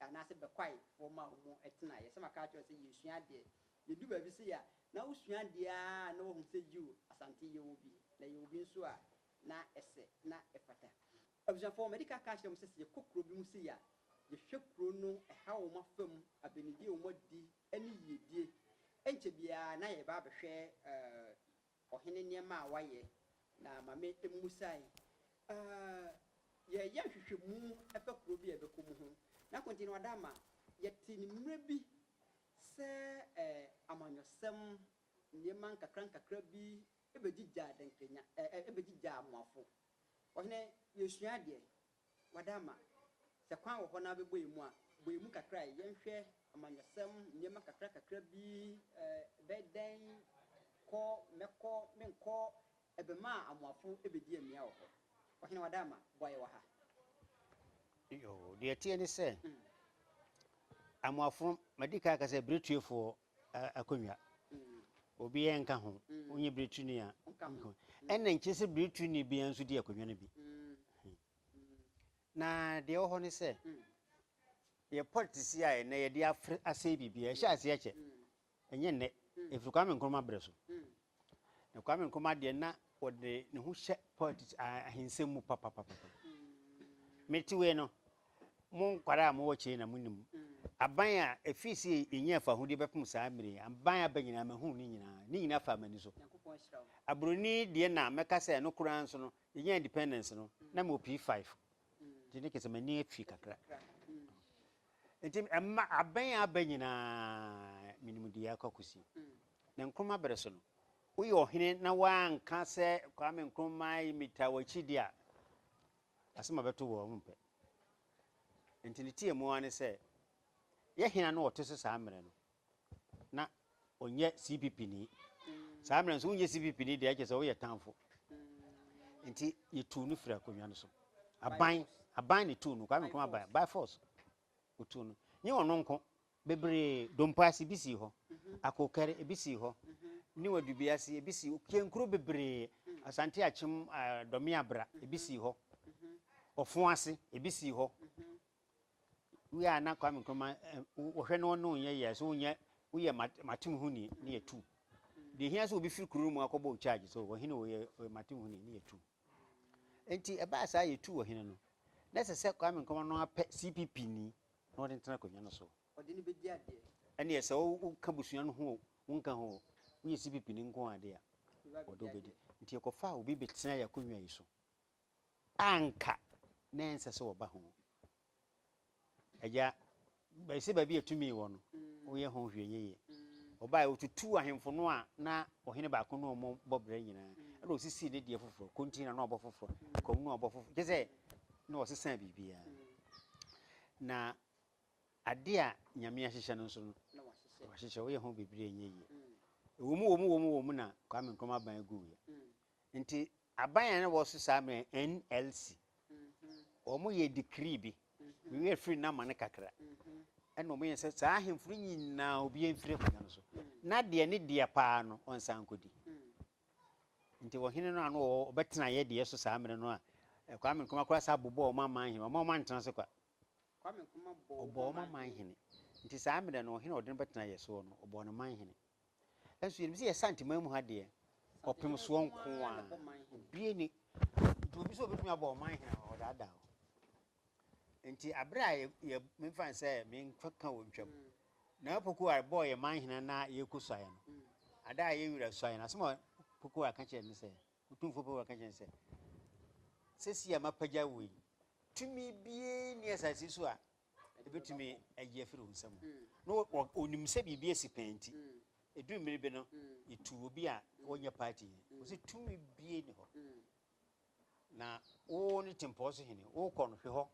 anaasɛ bɛkwae hɔ maa wɔn tenaeɛ. Sɛ maka akyerɛ wo sɛ yɛresua adeɛ, yɛdu baabi sei a, na wosua adeɛ ara na woahu sɛ yiw, Asante yɛwɔ bi, na yɛwɔ bi nso a na ɛsɛ, na ɛfata. Abusuafoɔ, madi ka aka akyerɛ mo sɛ, sɛ yɛkɔ kuro bi mu sei a, yɛhwɛ kuro no ɛha wɔn afa mu, abɛnidie a wɔadi, ne yiedie. Ɛnkyɛ biara na yɛreba abɛhwɛ eh, Ɔhene nneɛma a wayɛ, na ma me mmusae. Ahh yɛreyɛ nhwehwɛmu fa kuro bi a yɛbɛkɔ mu ho, na konti no ada ama yɛte ne mmerɛ bi sɛ ɛɛ amanyɔsɛm nneɛma nkakra nkakra bi bɛgyigyaa dɛnkanya ɛɛ bɛgyigyaa amoafo. Ɔhene yɛresua adeɛ, Wada ama. Sɛ kwan wɔ hɔ na wobɛbɔ emu a, bɔ emu kakra a. Yɛnhwɛ amanyɔsɛm nneɛma kakrakakra bi, ɛbɛyɛ dɛn, kɔ, mɛkɔ, menkɔ, ɛbɛma amoafo bɛdi amia wɔ hɔ. Ɔhene Wada ama, boa yɛn wɔ ha.
Yoo, deɛ ɛteɛ ne sɛ, amoafo, madi kan aka sɛ, berɛtuefoɔ, akonnwa. Obiara nka ho, wonyɛ birituni a, ɛna nkyerɛ sɛ birituni biara nso di akonnwa no bi. Na deɛ ɛwɔ hɔ ne sɛ, yɛ politics yi a ɛnɛ yɛde afre asɛe biribiara, ɛhyɛ aseɛ kyɛ. Ɛnyɛ nnɛ, ɛfiri Kwame Nkrumah berɛ so. Na Kwame Nkrumah deɛ na ɔde ne ho hyɛ politics ah, ahensɛm mu papapapa. Mete wei no, mo nkwara a mowɔ kyei na monim. Aban a ɛfii se yɛnya afahodie bɛpem saa mmere yi, aban aba nyinaa mahunu ne nyinaa. Ne nyinaa faa m'ani so. Aburoni deɛ na mɛka sɛ ɛno koraa nso no, yɛnya independence no, na mewɔ P5. Nti ne kɛ sɛ m'ani afi kakra. Enti ɛma abɛn a aba nyinaa menim deɛ ɛrekɔ akɔsi. Na Nkrumah bere so no, woyɛ ɔhene na woanka sɛ Kwame Nkrumah yi metaa w'akyi deɛ a, asɛm a ɛbɛto wo a wompɛ. Enti ne teamu ara ne sɛ, yɛ hena na ɔte so saa mmerɛ no? na ɔnyɛ cpp ni saa mmerɛ nso wonyɛ cpp ni deɛ ɛkyɛ sɛ woyɛ tanfo nti yɛtuu no firi akonnwa no so aban aban ne tuu no kwame nkrumah aban by force ɔtuu no nye ɔno nko bebree dompaase bi sii hɔ mhm. akokɛre ebi sii hɔ mhm. ne wadubea ase ebi sii hɔ kienkuro bebree mhm. asante akyem dɔme abra ebi sii hɔ ɔfo ase ebi sii hɔ Wei a na Kwame Nkrumah eh, wɔhwɛ no ɔno nyɛ yɛ so nyɛ woyɛ matem ho ni ne yɛ tu. Deɛ hia sɛ obi firi kuro mu akɔbɔ charge so ɔhene ɔyɛ ɔyɛ matem ho ni ne yɛ tu. Nti ɛbaa saa yɛ tu ɔhene no na ɛsɛ sɛ Kwame Nkrumah no apɛ CPP ni na ɔde ntena akonnwa no so. Ɔde ne bɛdi
adeɛ. Ɛne ɛsɛ woka
busua no ho wonka ho woyɛ CPP ni nko ade a ɔde wobɛdi. Nti ɛkɔfa obi bɛtena yɛ akonnwa yi so. a anka na ɛnsɛ sɛ wɔba ho. Agya, bɛyɛ sɛ baabi a tumi wɔ no, woyɛ ho hwee yiye. Wɔbae, wotutuu ahemfo no a na ɔhene baako ne wɔn bɔ brɛ nyinaa, ɛnna wosisii ne deɛ foforɔ, kontin na na wɔbɔ foforɔ, kwamu na wɔbɔ foforɔ, kyerɛ sɛ na wɔsesaa biribiara. Na ade a Nyame ahyehyɛ no nso no, wahyehyɛ, woyɛ ho biribi a ɛnyɛ yie. Ɛwɔ mu, wɔ mu, wɔ mu, wɔ mu na Kwame Nkrumah ban guiɛ. Nti Aban a na ɛwɔ so saa bere no yɛ NLC. Wɔyɛɛ decree bi. Me werɛ firi no amane kakra. Ɛnna wɔyɛɛ sɛ saa ahemfo no nyinaa obiara mfiri akonnwa no so, na deɛ ne deɛ paa no, ɔnsan nkɔdi. Nti ɔhene no a na ɔwɔ ɔbɛtena yɛ deɛ so saa mmerɛ no a, Kwame Nkrumah koraa saa bobɔɔ wɔn aman hene. Wɔn a wɔantena
ase kwa.
Kwame Nkrumah bɔɔ wɔn aman hene. Ɔbɔɔ
wɔn
aman hene. Nti saa mmerɛ no, ɔhene a ɔde no bɛtena yɛ soɔ no, ɔbɔɔ no man hene. Nso yɛnim sɛ yɛ Santeman mu ha deɛ, ɔpem soɔ nko a, obie ni. Nti obi sɛ obɛtumi abɔ ɔman hene a, ɔdaadaa o. Nti aberɛ a yɛ, memfa ne sɛ menka wɔ ntwam, na Opoku a bɔɔ yɛ man hene na yɛkɔ suaeɛ no, ada a yɛ wura suaeɛ no, asɛm a Opoku a ka kyerɛ ne sɛ, Otumfoɔ Opoku a ka kyerɛ ne sɛ, sɛsi a mapagya wei, tumi biara ni asase so a Ebetumi ayi afiri wo nsam. Na onim sɛ biribi asi pɛn nti, eduu mmere bi no, yetuu obi a ɔnyɛ party yi. Ɔse, Tumi biara nni hɔ. Na wo ne tempɔn so hene, wokɔ no, hwe hɔ.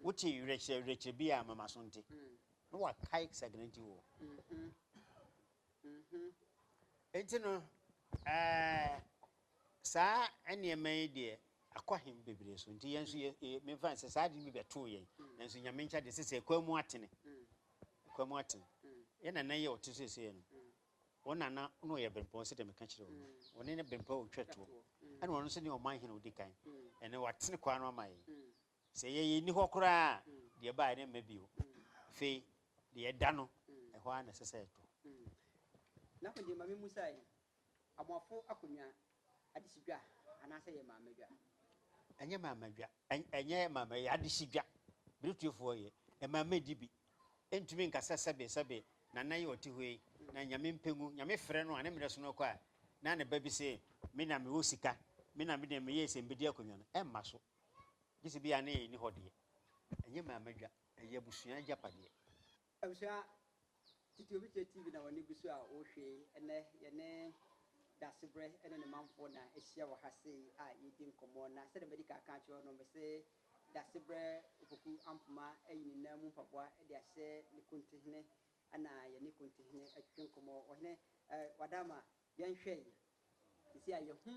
Wote werɛkyerɛ werɛkyerɛ biara a, ma m'aso nte. Na wakae Saginaw nti wɔ. Enti no, ɛɛ, Saa nneɛma yi deɛ akɔ he bebree so, nti yɛ nso yɛ yɛ memfa ne sɛ saa ade no bi bɛtoo yɛn, nanso Nyame nkyɛ deɛ sesei ɛkwan mu atene. Ɛkwan mu atene. Yɛ nana yi a ɔte sesei no, wo nana na ɔyɛ Bempɔn sɛdeɛ meka kyerɛ wo no, ɔne ne Bempɔn a ɔtwa toɔ, ɛna ɔno nso ne ɔman hene a ɔdi kan, ɛnɛ watene kwan no ama yɛn. Sɛ yɛ yɛnni hɔ koraa a, deɛ ɛbaeɛ no mma bio. Afei deɛ ɛda no, ɛhɔ ara na ɛsɛ sɛ ɛtɔ.
Nako deɛ ma me mmusa yi, Amoafo akonnwa, adesidwa anaasɛ ɛyɛ maamadwa? Ɛnyɛ
maamadwa. Ɛnyɛ maamadwa, ɛyɛ adesidwa. Berɛtuofoɔ yɛ. Ɛmaama di bi. Ɛntumi nka sɛ sɛbe, sɛbe Nana yi ɔte hɔ yi, na Nyame mpɛ ngu. Nyame frɛ no a, ne mmerɛ so no kɔ a, na ne ba bi se, Me na mewɔ sika, me na medeɛ meyɛɛ sɛ mebɛdi akonnwa no. Ɛmma so. Gye sɛ bi a ne yɛn nni hɔ deɛ. Ɛnyɛ maamadwa, ɛyɛ abusua agyapadeɛ. Abusua
titiriw bi tie TV na wɔn ani gu so a wɔhwɛ yi. Ɛnnɛ, yɛne Dasebrɛ ne ne manfoɔ na ahyia wɔ ha sei a yɛredi nkɔmmɔ. Na sɛdeɛ madi kan aka akyerɛ wo no, mese Dasebrɛ Opoku Ampoma ayi ne nan mu mpaboa de ahyɛ ne Kontihene na yɛne Kontihene atwitwe nkɔmmɔ. Ɔhene, eh, Wadaama, yɛnhwɛ yi. Seesei a yɛahu,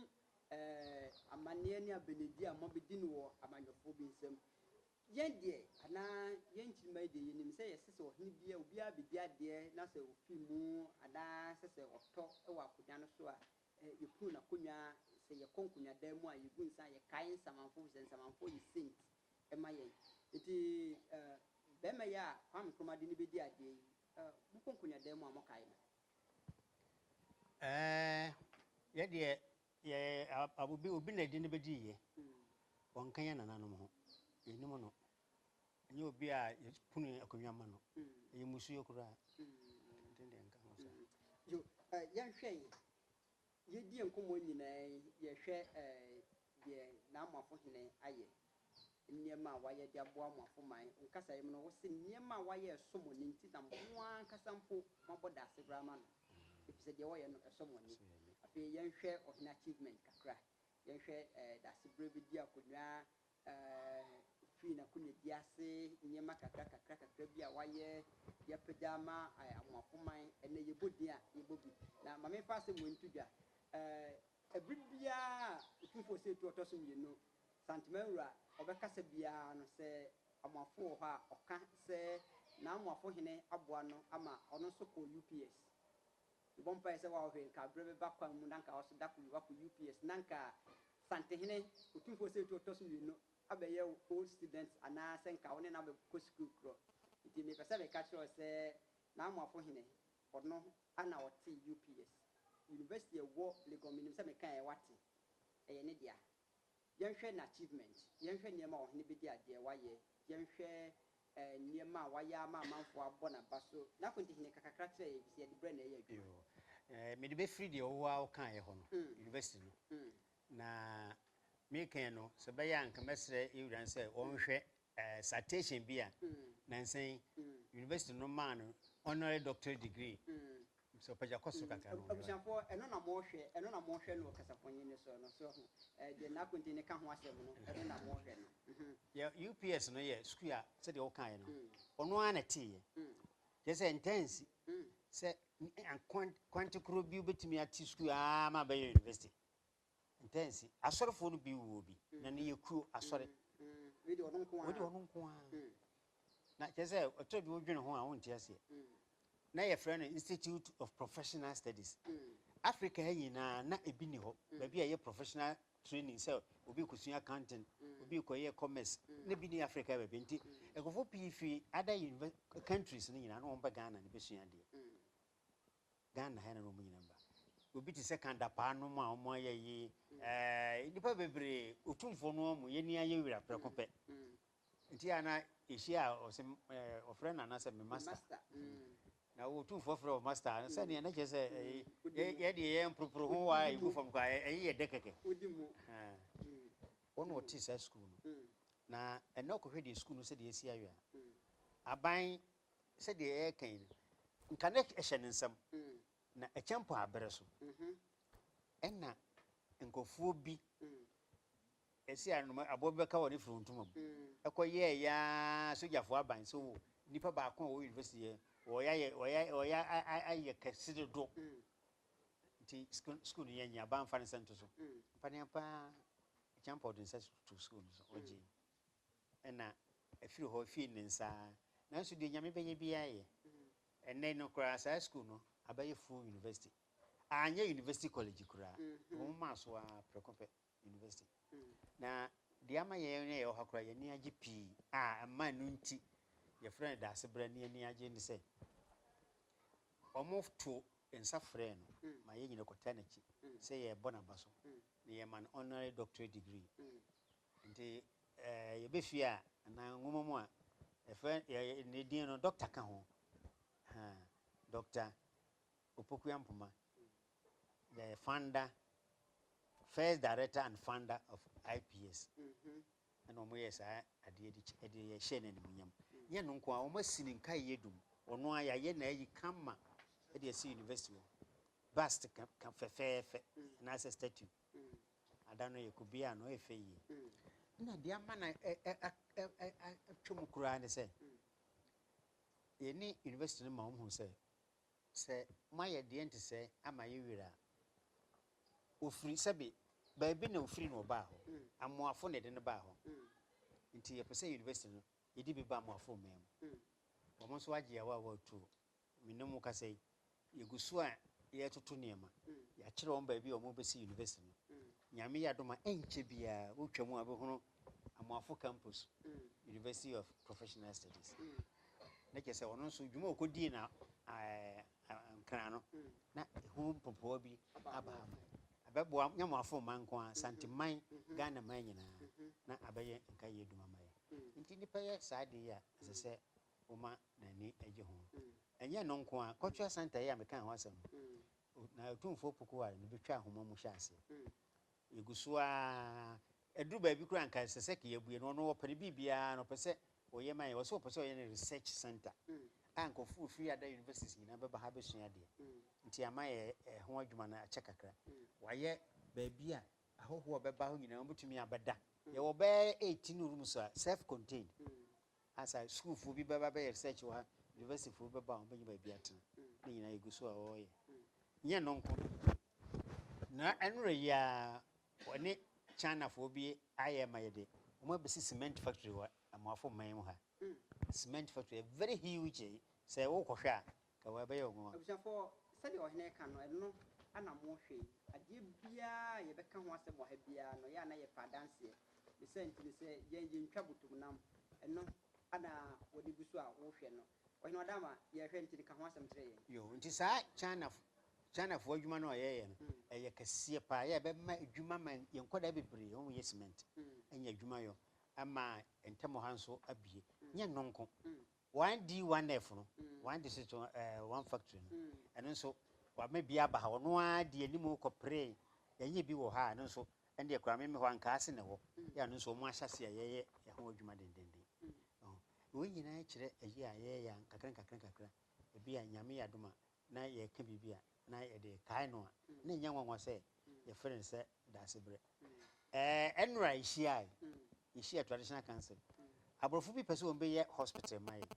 eh, amanneɛ ne abɛnedie a moabɛdi no wɔ amanyɔfoɔ bi nsam. Yɛn deɛ, anaa yɛn nkyirimma yi deɛ, yɛnim sɛ ɛsɛ sɛ ɔhene biara, obiara bɛdi adeɛ na sɛ ɔfiri mu, anaa sɛ sɛ ɔtɔ wɔ akonnwa no so a, yɛpunu n'akonnwa, sɛ yɛkɔ nkonnwadan mu a, yɛgu nsa a, yɛkae nsamanfoɔ, ɛfiri sɛ nsamanfoɔ yɛ saint ma yɛn. Enti barima yi a Kwame Nkrumah de no bɛdi adeɛ yi, mokɔ nkonnwadan mu a, mokae no? Ɛɛ,
yɛn deɛ, Yɛ a obi obi na ɛde no bɛdi yɛ. Wɔnka yɛn nananom ho. Yɛnim no. Ɛnyɛ obi a yɛpono akonnwa ma no. Ɛyɛ mmusuo koraa. Ɛnti deɛ nka ho saa. Yo, eh, yɛnhwɛ yi.
Yɛdie nkɔmmɔ nyinaa yi, yɛhwɛ eh, deɛ N'amoafo Hene ayɛ. Nneɛma a wayɛ de aboa mo afom man wo kasaeɛ mu no wo se nneɛma a wayɛ ɛsɔ mo ani nti na mo ara ankasa mpo moabɔ daase koraa ama no ɛfiri sɛ deɛ ɔyɛ no ɛsɔ mo ani. Afei yɛnhwɛ ɔhene achievement kakra, yɛnhwɛ daase berɛ bi di akonnwa, firi n'akonnwa di ase, nneɛma kakra kakra kakra bi a wayɛ de apagya ama mo afom man ɛnɛ yɛbɔ din a yɛbɔ bi na ma memfa asɛm wei nto dwa, ɛberɛ biara a Otumfoɔ Ɔsɛetuo a ɔtɔ so mmienu Santema wura ɔbɛkasa biara no sɛ Amoafo wɔ hɔ a ɔka sɛ n'Amoafo hene aboa no ama ɔno nso kɔ UPS. Mebɔ mpaeɛ sɛ wow hwɛ nka berɛ bɛba kwan mu na nka wo nso da koro bi wakɔ UPS na nka Santehene Otumfoɔ Osei Tuo ɔtɔ so mmienu abɛyɛ wo old student anaa sɛ nka wo ne no abɛkɔ sukuu korɔ. Nti mepɛ sɛ meka kyerɛ wo sɛ n'Amoafo hene ɔno na ɔte UPS. University a ɛwɔ Legon menim sɛ mekaeɛ woate. Ɛyɛ ne dea. Yɛnhwɛ n'achievement, yɛnhwɛ nneɛma a ɔhene bedi adeɛ wayɛ, yɛnhwɛ eh, nneɛma a wayɛ ama amanfoɔ abɔ n'aba so. N'akonti hene, ka kakra kyerɛ yɛn, efisɛ yɛde brɛ na ɛyɛ adwuma. Yoo, eh, mede bɛfiri deɛ wo
ara wokaeɛ hɔ no, Mm. university no, Mm. na merekɛn no, sɛ ɛbɛyɛ a anka mɛsrɛ yɛn wura no sɛ ɔnhwɛ citation bi a nnansa yi University no maa no honorary doctorate degree. Mr. Opagya kɔ soro kakra na wɔnhwɛ. Abusuafoɔ, ɛno na
mohwɛ, ɛno na mohwɛ no wɔ kasafonyin no so no, so ahu? Deɛ n'akonti no ka ho asɛm no, ɛno na mohwɛ no. Yɛ UPS no yɛ
sukuu a sɛdeɛ wokaeɛ no, ɔno ara na ɛteeɛ. Kyerɛ sɛ ɛntaa nsi sɛ kwan, kwante korɔ bi wobɛtumi ate sukuu ara ma abɛyɛ University. Ntɛnsi, asɔrefoɔ no bi wuo bi, na ne yɛ kuro, asɔre. Wei deɛ ɔno nko
ara. Wei deɛ ɔno nko ara.
Na kyerɛ sɛ, ɛtɔ bi wodwene ho a, wonte aseɛ. Na yɛfrɛ no Institute of Professional Studies. Africa ha nyinaa, na ebi nni hɔ. Baabi a ɛyɛ professional training sɛ obi rekɔsua accounting, obi rekɔyɛ commerce, na ebi nni Africa ha baabi. Nti, nkurɔfoɔ pii firi other univers, countries no nyinaa, na wɔba Ghana na bɛsua adeɛ. Ghana ha na na wɔn nyinaa ba. Obi te sɛ Kan Dapaah nom a wɔn ayɛ yi, ɛɛ nnipa bebree, Otumfoɔ no wɔn, yɛn ani ayɛ wira prɛko pɛ. Nti a na yɛhyia a ɔse ɛɛ ɔfrɛ Nana sɛ me master. Na Otumfoɔ frɛ wo master a, sɛdeɛ na kyerɛ sɛ ɛyi yɛ deɛ yɛ mporoporo ho wa a yɛgu fam koraa a, ɛyi yɛ dɛ kɛkɛ. Wɔn na wɔte saa sukuu no. Na ɛnɛ wokɔhwɛ deɛ sukuu no sɛdeɛ asi awe a, aban sɛdeɛ yɛreka yi no, nka na ɛhyɛ ne nsam, na ɛkyɛ mpo a berɛ so. Ɛna nkurɔfoɔ bi ɛsi anoma aboɔ bi bɛka wɔ ne firi ntoma mu ɛkɔ yɛɛ yaa sogyafoɔ aban so wo nipa baako a wɔ university yɛ wɔyɛ wɔyɛ wɔyɛ ayɛ kɛse dodo nti school no yɛ nyɛ aban fa ne sɛ nto so mpa ne apaa kyɛn pɔ de nsa to school no so ɔgye na afiri hɔ fii ne nsa ara. Nanso deɛ Onyame bɛyɛ biara yɛ. Ɛnnɛ no koraa saa sukuu no abɛyɛ full university. Anyɛ university college koraa, wɔn maa so ara prɛko pɛ university. Na deɛ ama yɛn a yɛwɔ ha koraa yɛn ani agye pii a ɛma ɛno nti yɛfrɛ no Daasebrɛ ne ani agye ne sɛ, wɔtoo nsa frɛɛ no ma yɛn nyinaa kɔtaa n'akyi sɛ yɛrebɔ n'aba so na yɛma no honorary doctorate degree. Ntsi yɛba fie a, anaa nwoma mu a, yɛfrɛ ne dzin no, dɔkta ka ho. Ahaa, Dɔkta Opoku Ampoma, the founder, first director and founder of IPS, nna wɔyɛɛ saa adeɛ de hyɛɛ no animuonyam. Nnyɛ ɛno nko ara, wɔasi ne nkaeɛ dum, ɔno ara yɛayɛ no ayi kama de asi university hɔ, bust fɛfɛɛfɛ, anaasɛ statue. Ada no yɛ kubea a na ɔyɛ fɛ yie. Ɛna deɛ ama no atwa mu koraa ne sɛ, yɛne university no ma wɔn hu sɛ, sɛ moayɛ deɛ nte sɛ ama yɛ werɛ a, ɔfiri sɛbe baabi na ɔfiri na ɔbaa hɔ. Amoafo na ɛde no baa hɔ. Nti yɛpɛ sɛ university no yɛde bi ba Amoafo mmɛn mu. Wɔn nso agye awaawa tuo. me ne mo kasa yi, yɛgu so a yɛretoto nneɛma. Yɛakyerɛ wɔn baabi a wɔbɛsi yunivɛsiti no. Nyame yɛ adom a, ɛnkyɛ biara wotwa mu a wobɛhunu Amoafo Campus, University of Professional Studies. Na kyerɛ sɛ ɔno nso, dwuma a ɔkɔdii no Nkran no, na ɛho mpopowa bi aba ama. Ɛbɛboa Nyamoafo mma nko ara, Santeman, Ghanaman nyinaa, na abɛyɛ nkaeɛ adwuma ama yɛn. Nti nnipa yɛ saa adeɛ yi a, ɛsɛ sɛ Woma n'ani gye ho. Ɛnyɛ ɛno nko ara, Cultural Centre yi a mekaa ho asɛm no, na Otumfoɔ Pokuharry na obetwa nhoma mu hyɛ ase. Yegu so ara, ɛduru baabi koraa a anka ɛsɛ sɛ ka yɛabue no, ɔno ɔpɛ ne biribiara no, ɔpɛ sɛ ɔyɛ ma yɛn. Ɔse ɔpɛ sɛ ɔyɛ no research centre a nkurɔfo befiri other universities nyinaa bɛba ha abɛsua adeɛ. Nti ama yɛ ɛho adwuma no akyɛ kakra. Wayɛ baabi a ahɔhoɔ a wɔbɛba hɔ nyinaa wɔbetumi abɛda. Yɛwɔ bɛyɛ 18 rooms a self-contained Ansa sukuufoɔ bi bɛba bɛyɛ research wɔ ha, universityfoɔ bi bɛba a wɔbɛnya baabi atena. Ne nyinaa yɛgu so a wɔreyɛ. Nyɛ ɛno nko. Na ɛnora yi ara wɔne Chinafoɔ bi ayɛ ma yɛde wɔn abɛsi cement factory wɔ Amoafo man mu ha. Cement factory, very huge. Sɛ wokɔhwɛ a, Ka hɔ, ɛbɛyɛ wo nwonwa. Abusuafo, sɛdeɛ
ɔhene ka no, ɛno na mo hwɛ yi. Adeɛ biara a yɛbɛka ho asɛm wɔ ha biara no, yɛn a na yɛpɛ adanseɛ. Ne saa nti no, sɛ yɛn yɛntwa botomnam, ɛno na wɔde gu so a wohwɛ no. Ɔhene Ɔdaama, yɛrehwɛ nti no, ka ho asɛm kyerɛ yɛn. Yoo, nti saa
Chinafo, Chinafoɔ adwuma no a wɔyɛ yɛ no, ɛyɛ kɛseɛ pa ara. Yɛ a ɛbɛma adwuma ama yɛn nkwadaa bebree wɔn yɛ cement anya adwuma yɔ, ama yɛn ntam ha nso abue. Nyɛ ɛno nko, Wɔn D one F no, wɔn de si to wɔn factory no, ɛno nso wɔama bi aba ha, ɔno ara di anim kɔ peree, yɛnyɛ bi wɔ ha a ɛno nso ɛno deɛ koraa me me hɔ ankaase na ɛwɔ, yɛ a ɛno nso wɔn ahyɛ aseɛ a yɛyɛ ɛho adwuma dendenden. Wɔn nyinaa kyerɛ ayi a yɛyɛ a nkakra nkakra nkakra, ebi a Nyame yɛ adom a na yɛreka biribi a, na yɛde rekae no a, na ɛnyɛ nwanwa sɛ yɛfrɛ no sɛ Daasebrɛ. Ɛɛ, nnora a yehyiae, yehyiaa Traditional Council. Aborɔfo bi pɛ sɛ wɔbɛyɛ hospital ma yɛn.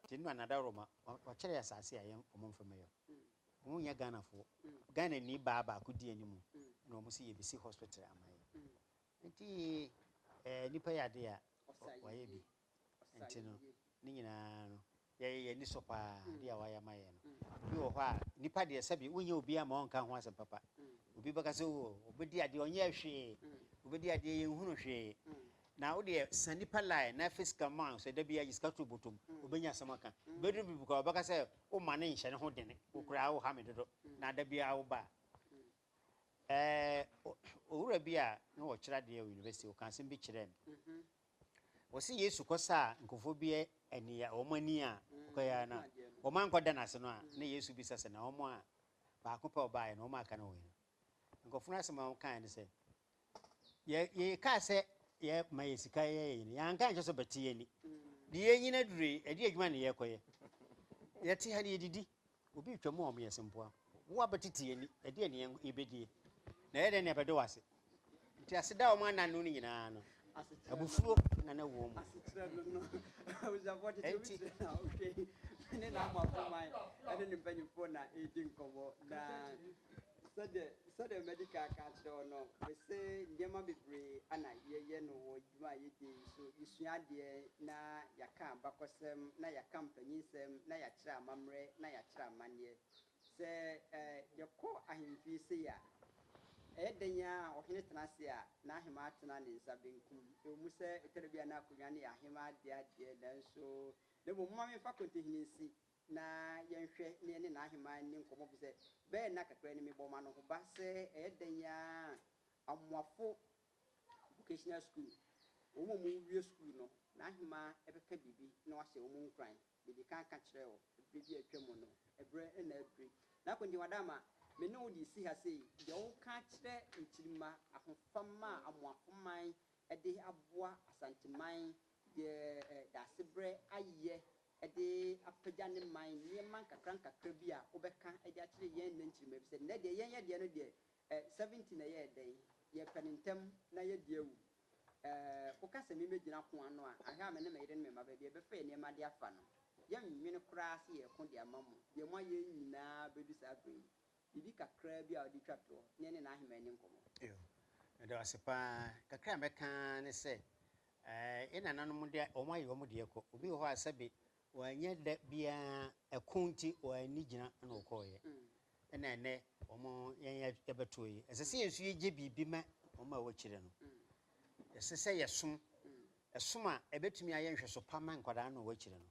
Nti nnora na Dawuroma, wɔkyerɛ yɛn asase a yɛn wɔmfa mmɛyɛ. Wɔnyɛ Ghanafoɔ. Ghanani baa baako dii anim, ɛna wɔn se yɛbɛsi hospital ama yɛn. Nti, ɛɛ, nnipa yɛ adeɛ a, wɔayɛ bi. Enti no, ne nyinaa no, yɛyɛ yɛn ani sɔ paa adeɛ a wayɛ ama yɛn no. Ebi wɔ hɔ a, nnipa deɛ sɛbe wonnya obiara ma ɔnka ho asɛm papa. Obi bɛka sɛ, oo, ɔbɛdi adeɛ, ɔnyɛɛ hwee, ɔbɛdi adeɛ, yɛnhunu hwee. Na wo deɛ, sa nnipa line na fa sika ma, sɛ da biara gye sika to bɔtɔ mu, ɔbɛnya asɛm aka. Ɛbɛduru baabi koraa, ɔbɛka sɛ, woma no nhyɛ ne ho dene, wo koraa woha me dodo, na da biara woba a. Ɛɛ, owura bi a na ɔkyerɛ adeɛ wɔ university, ɔkaa asɛm bi kyerɛɛ me. Wɔse Yesu kɔsaa nkurɔfoɔ bi ani a wɔn ani a ɔkɔeɛ ara no a wɔn ankɔda no ase no a na Yesu bisa sɛ na wɔn a baako pɛ a ɔbaeɛ no wɔn a aka no wɔ he? Nkurɔfoɔ no asɛm a wɔkaeɛ ne sɛ yɛ yɛkaa sɛ yɛma yɛ sika yɛ yɛ nyina yɛanka ankyerɛ sɛ ɔbɛte yɛn ani de yɛn nyina durui ɛde adwuma ne yɛkɔyɛ yɛte ha ne yɛdidi Obi retwa mu a ɔmo yɛ se mpoa. Wo abɛtete yɛn ani, ɛdeɛn na yɛn yɛbɛdie? Na ɛyɛ dɛn na yɛbɛdɔ wo ase? Nti ase da a ɔmo ananne no nyinaa no, abufuo na na ɛwɔ
wɔn mu. dwuma a yɛdi yi so, yɛsua adeɛ na yɛaka abakɔsɛm na yɛaka mpanyinsɛm na yɛakyerɛ amammerɛ na yɛakyerɛ amanneɛ. Sɛ yɛkɔ ahemfie sei a, ɛyɛ dɛn ara a ɔhene tena ase a, n'ahemaa tena ne nsa benkum. Ɛwɔ mu sɛ ɛtɔ da bi a na akonnwa no yɛ ahemaa dea deɛ, nanso na mmom momma memfa Kɔntehene nsi na yɛnhwɛ na yɛne n'ahemaa nni nkɔmmɔ efisɛ bɛyɛ nna kakra ni mebɔɔ m'anohoba sɛ ɛyɛ dɛn ara a, Amoafo Vocational School, Wɔn a wɔwie sukuu no, n'ahemaa bɛka biribi na wahyɛ wɔn nkuran. Mede kan ka kyerɛɛ wo bere bi a atwam no, ɛberɛ na aduru. N'akwankyɛm ada ama me ne wo de resi ha sei, deɛ woka akyerɛ nkyirimma, ahofama a Amoako man de aboa Asanteman de Daasebrɛ ayɛ de apagya ne man, nneɛma nkakrankakra bi a wobɛka de akyerɛ yɛn nnɛ nkyirimma, efisɛ nnɛ deɛ yɛnyɛ deɛ no deɛ, Eh, seventeen ɛyɛɛ dɛn? Yɛ pɛ no ntɛm na yɛ di awu Eh, wo ka sɛ me mɛ gyina ko ano a, ahwɛ a me ne me yere ne me mma baabi a yɛ bɛ fa yɛ nneɛma de afa no. Yɛ nnwene koraa sɛ yɛ ko de ama mo, deɛ mo ayɛ nyinaa bɛ du saa berɛ yi. Biribi kakraa bi a ɔde twa toɔ, na yɛ ne n'aheman ani nkɔmɔ. Ew, meda
wo ase paa, kakra a mɛka ara ne sɛ, eh, yɛ nananom deɛ wɔn ayɛ wɔn deɛ kɔ, obi wɔ hɔ a sɛbe Wɔanyɛ da biara, ɛko nti wɔanni gyina na wɔkɔeɛ, ɛna ɛnnɛ wɔn yɛn yɛbɛtoɔ yi. Ɛsɛ sɛ yɛn nso yɛgye biribi ma wɔn a wɔakyire no. Ɛsɛ sɛ yɛsom, ɛsom a ɛbɛtumi ayɛ nhwɛso pa ma nkwadaa no a wɔakyire no.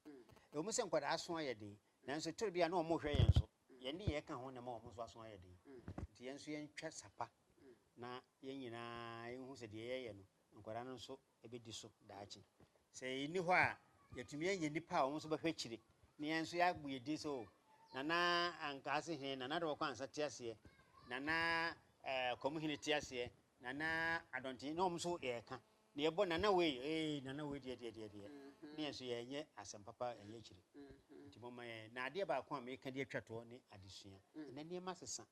Ɛwom sɛ nkwadaa aso ayɛ den, nanso toro bi a na wɔhwɛ yɛn so, yɛn nneyɛɛ ka ho na ɛma wɔn nso aso ayɛ den. Nti yɛn nso yɛntwa sa pa na yɛn nyinaa yɛnhu sɛ deɛ yɛyɛ no nkwadaa no nso ɛbɛdi so daakye. Sɛ yɛn nni hɔ a, yɛatumi anya nnipa a wɔn nso bɛhwɛ akyire, na yɛn nso yɛabɔ yɛn din sɛ, O, Nana Ankaase Hene, Nana Adawɔkɔ-Ansah te aseɛ, Nana eh, Kwamu Hene te aseɛ, Nana Adɔnten, na wɔn nso yɛreka, na yɛbɔ Nana wei, ee, Nana wei deɛ, deɛ, deɛ, deɛ, na yɛn nso yɛnyɛ asɛm papa ɛnyɛ akyire. Nti momma yɛn, na adeɛ baako a meka de atwa toɔ ne adesua. Ɛnɛ nneɛma sesa.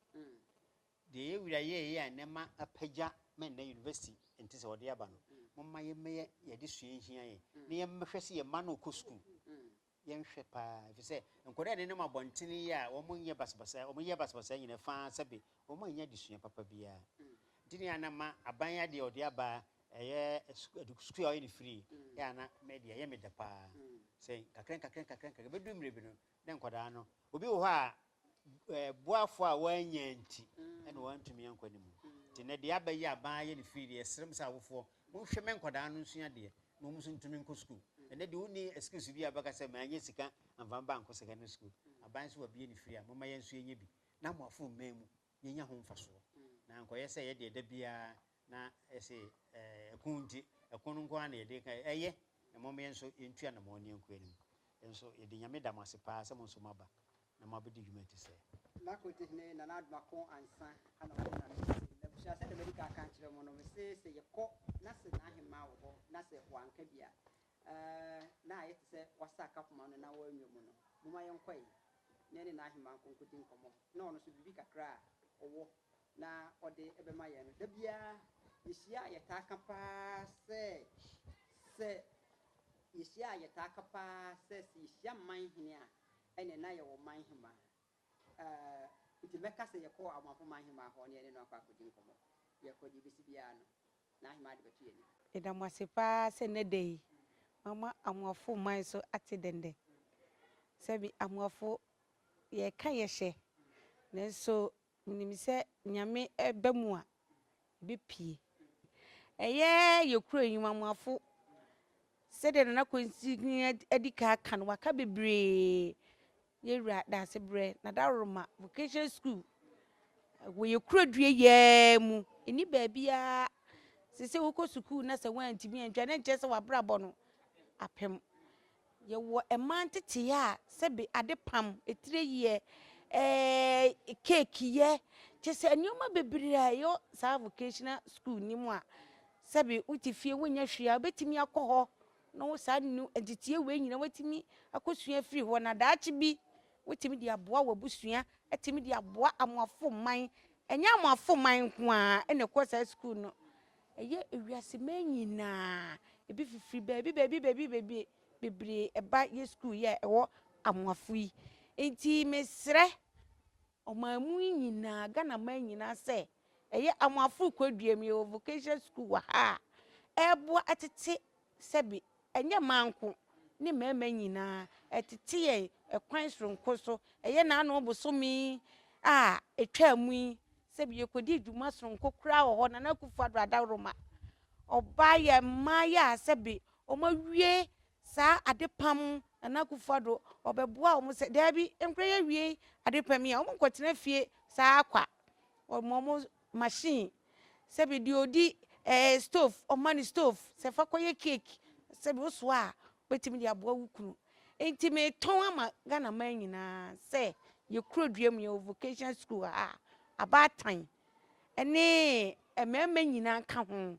Deɛ yɛn wura yɛɛyɛ a nnɛ ma apagya ma nnɛ university nte sɛ ɔde aba no, momma yɛmmɛyɛ deɛ adesua nhia yɛn na yɛmmɛhwɛ sɛ yɛn mma no rekɔ sukuu. Yɛnhwɛ pa ara ɛfiri sɛ nkwadaa a ɛnenam abɔntene yi a wɔnyɛ basabasa, wɔyɛ basabasa nyina fa ara sɛbe wɔannya adesua papa biara nti ne ana ma aban adeɛ a ɔde aba ɛyɛ sukuu a wɔyɛ no free, ɛyɛ ana me deɛ ɛyɛ me dɛ pa ara sɛ nkakrankakra nkakrankakra ɛbɛduru mmerɛ bi no ne nkwadaa no. Obi wɔ hɔ a, boafo a wannya nti na wantumi ankɔ anim. Nti nnɛ deɛ aba yi a ban ayɛ no firi deɛ, yɛsrɛ mo sɛ awofoɔ, monhwɛ mɛ nkwadaa no nsua adeɛ na wɔn nso ntumi nkɔ sukuu. Ɛnnɛ deɛ wonni excuse bi a wobɛka sɛ mannya sika amfa me ba ankɔ secondary school. Aban nso wabue no firi a, momma yɛn nso yɛnyɛ bi na mo afom mɛ mu yɛnya ho mfasoɔ na ankɔyɛ sɛ yɛdeɛ da biara Na se ɛko nti, ɛko no nko ara na yɛde ka, ɛyɛ, na mom yɛn nso yɛntu anamɔn ne yɛnko anim. Nso yɛde Nyame da mo ase paa sɛ mo nso moaba na moabedi dwuma ti sɛɛ. Na Kotehene
Nana Addo Ako Ansa na ɔde Nyame ase. Na abusua sɛdeɛ madi kan aka akyerɛ mo no, me se sɛ yɛkɔ na se n'ahemaa wɔ hɔ na sɛ wanka bi a, na ayɛ te sɛ wasa aka poma no na wanwa mu no, momma yɛnkɔe na yɛne n'ahemaa nkonkodie nkɔmɔ, na ɔno nso biribi kakra a ɔwɔ na ɔde bɛma yɛn no, da biara yɛhyia a yɛtaa ka pa ara sɛ, sɛ yɛhyia a yɛtaa ka pa ara sɛ, sɛ yɛhyia mman hene a, ɛnneɛ na yɛwɔ mman hemaa. Ɛɛ, nti mɛka sɛ yɛkɔ Amoafo man hemaa hɔ na yɛne no akɔ akɔdi nkɔmmɔ. Yɛkɔ, deɛ ɛbɛsi biara no, n'ahemaa de bɛto yɛn anim. Yɛda mo ase pa ara
sɛ nnɛ da yi, moama Amoafo man so ate denden. Sɛbi Amoafo, yɛka yɛhyɛ, nanso Wonim sɛ Nyame ba mu a ɛbɛpue. Ɛyɛ yɛ kura nnwumamuafo sɛdeɛ Nana Kwantini adi kan aka no, waka bebree. Yɛ wura Daasebrɛ, Nadaroma Vocational School, wɔ yɛ kura dua yɛɛ mu, ɛni baabiaa. Sɛ sɛ wokɔ sukuu na sɛ woantumi antwa na nkyɛ sɛ wabrabɔ no apem. Yɛwɔ mmaa nteteyɛ a sɛbe adepam, atireyiɛ, eh, keeki yɛ, kyerɛ sɛ nneɛma bebree a ɛyɔ saa vocational school no mu a sɛbe wote fie wonyɛ hwee a wobɛtumi akɔ hɔ na wo saa nnu nteteyɛ wei nyina woatumi akɔsua afiri hɔ na daakye bi wotumi de aboa w'abusua, atumi de aboa amoafo man. Ɛnyɛ amoafo man nko ara na ɛkɔ saa school no. Ɛyɛ ewiase man nyinaa, ebi fifiri baabi baabi baabi baabi bebree ɛba yɛ sukuu yi a ɛwɔ Amoafo yi. Nti mesrɛ ɔman mu nyinaa, Ghana man nyinaa sɛ, ɛyɛ Amoafo Kwadwuam yɛwɔ vocational sukuu wɔ ha a ɛreboa tete Sɛbe, ɛnyɛ mmaa nko ne mmarima nyinaa ɛtete yɛn ɛkwan soronko so. Ɛyɛ n'ano bosome a ɛtwaa mu yi, sɛbe yɛkɔdii dwuma soronko koraa wɔ hɔ, Nana Akufo-Addo adaworoma. Ɔbaa yɛn mmaeɛ a sɛbe wɔawie saa adepam, Nana Akufo-Addo ɔbɛboaa wɔn sɛ, Daabi, ɛnkorɛ yɛawie adepam yi a, wɔnkɔtena fie saa ara kwa. Wɔma wɔn. machine sɛbi deɛ ɔdi ɛɛ stove ɔma no stove sɛ fa kɔyɛ cake sɛbi wosoa a wobɛtumi de aboa wo kunu nti metɔn ama Ghana man nyinaa sɛ yɛ kurodua mu yɛwɔ vocational school ha a abaatan ne mmarima nyinaa ka ho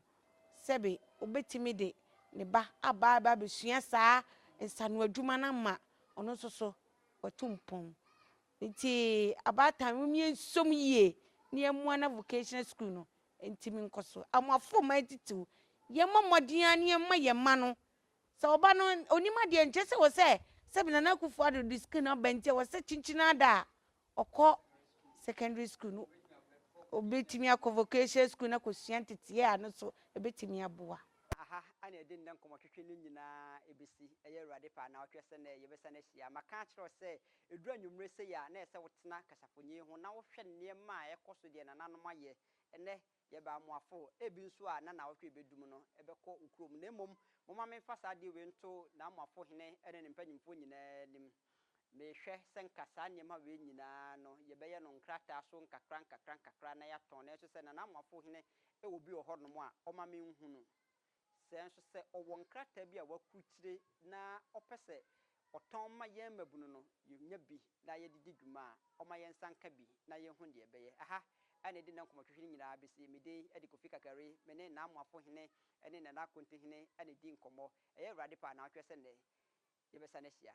sɛbi wobɛtumi de ne ba aba aba abɛsua saa nsano adwuma no ama ɔno nso so watu mpɔn Ntsi abaatan hom yɛnsɔ mu yie na yɛmboa na vocational skuul no ntumi nkɔ so. Amoafo mma etsitsir, yɛmbɔ mbɔdzen ara na yɛmma hɛn mma no, sɛ ɔba no onnyim adeɛ a, nnkyerɛ sɛ wɔ sɛ sɛ bi Nana Akuffo Addo dze skuul no aba ntsi wɔ sɛ kyenkyen ada a ɔkɔ secondary skuul no, obetumi akɔ vocational skuul na akosua ntsetseyɛ a no so ebetumi aboa. Aha na yɛdze
ndɛ nkɔmbɔtwetwe no nyina besi, ɛyɛ Ewuradze pɛ a na ɔkyerɛ sɛ ndɛ yɛbɛsan ehyia. Maka akyerɛ wo sɛ Ɛduru anwummere sei a, na ɛsɛ sɛ wotena kasafonyin ho na wohwɛ nneɛma a ɛkɔ so, deɛ nananom ayɛ. Ɛnnɛ, yɛba amoafo. Ebi nso a, na nnawɔtwe a ɛbɛdu mu no, ɛbɛkɔ wo kurom. Na mmom, momma memfa saa adeɛ wei nto n'amoafo hene ne ne mpanimfoɔ nyinaa anim. Mehwɛ sɛ anka saa nneɛma wei nyinaa no, yɛbɛyɛ no nkrataa so nkakra nkakra nkakra na yɛatɔn. Nanso sɛ nanamoafo hene wɔ bi wɔ hɔnom a, ɔmma menhunu. Sɛ nso sɛ ɔwɔ nkrataa bi a wakurukyire na ɔpɛ sɛ ɔtɔn ma yɛn mmabunu no, yɛnya bi na yɛde di dwuma a, ɔma yɛn nsa nka bi na yɛhu deɛ ɛbɛyɛ. Aha na yɛde nnɛ nkɔmmɔtwetwe no nyinaa bɛsie. Me din de Kofi Kakari. Me ne Naamoafo hene ne Nana Akonte hene na ɛredi nkɔmmɔ. Ɛyɛ Awurade pɛ a naawɔtwe sɛ nnɛ yɛbɛsane ahyia.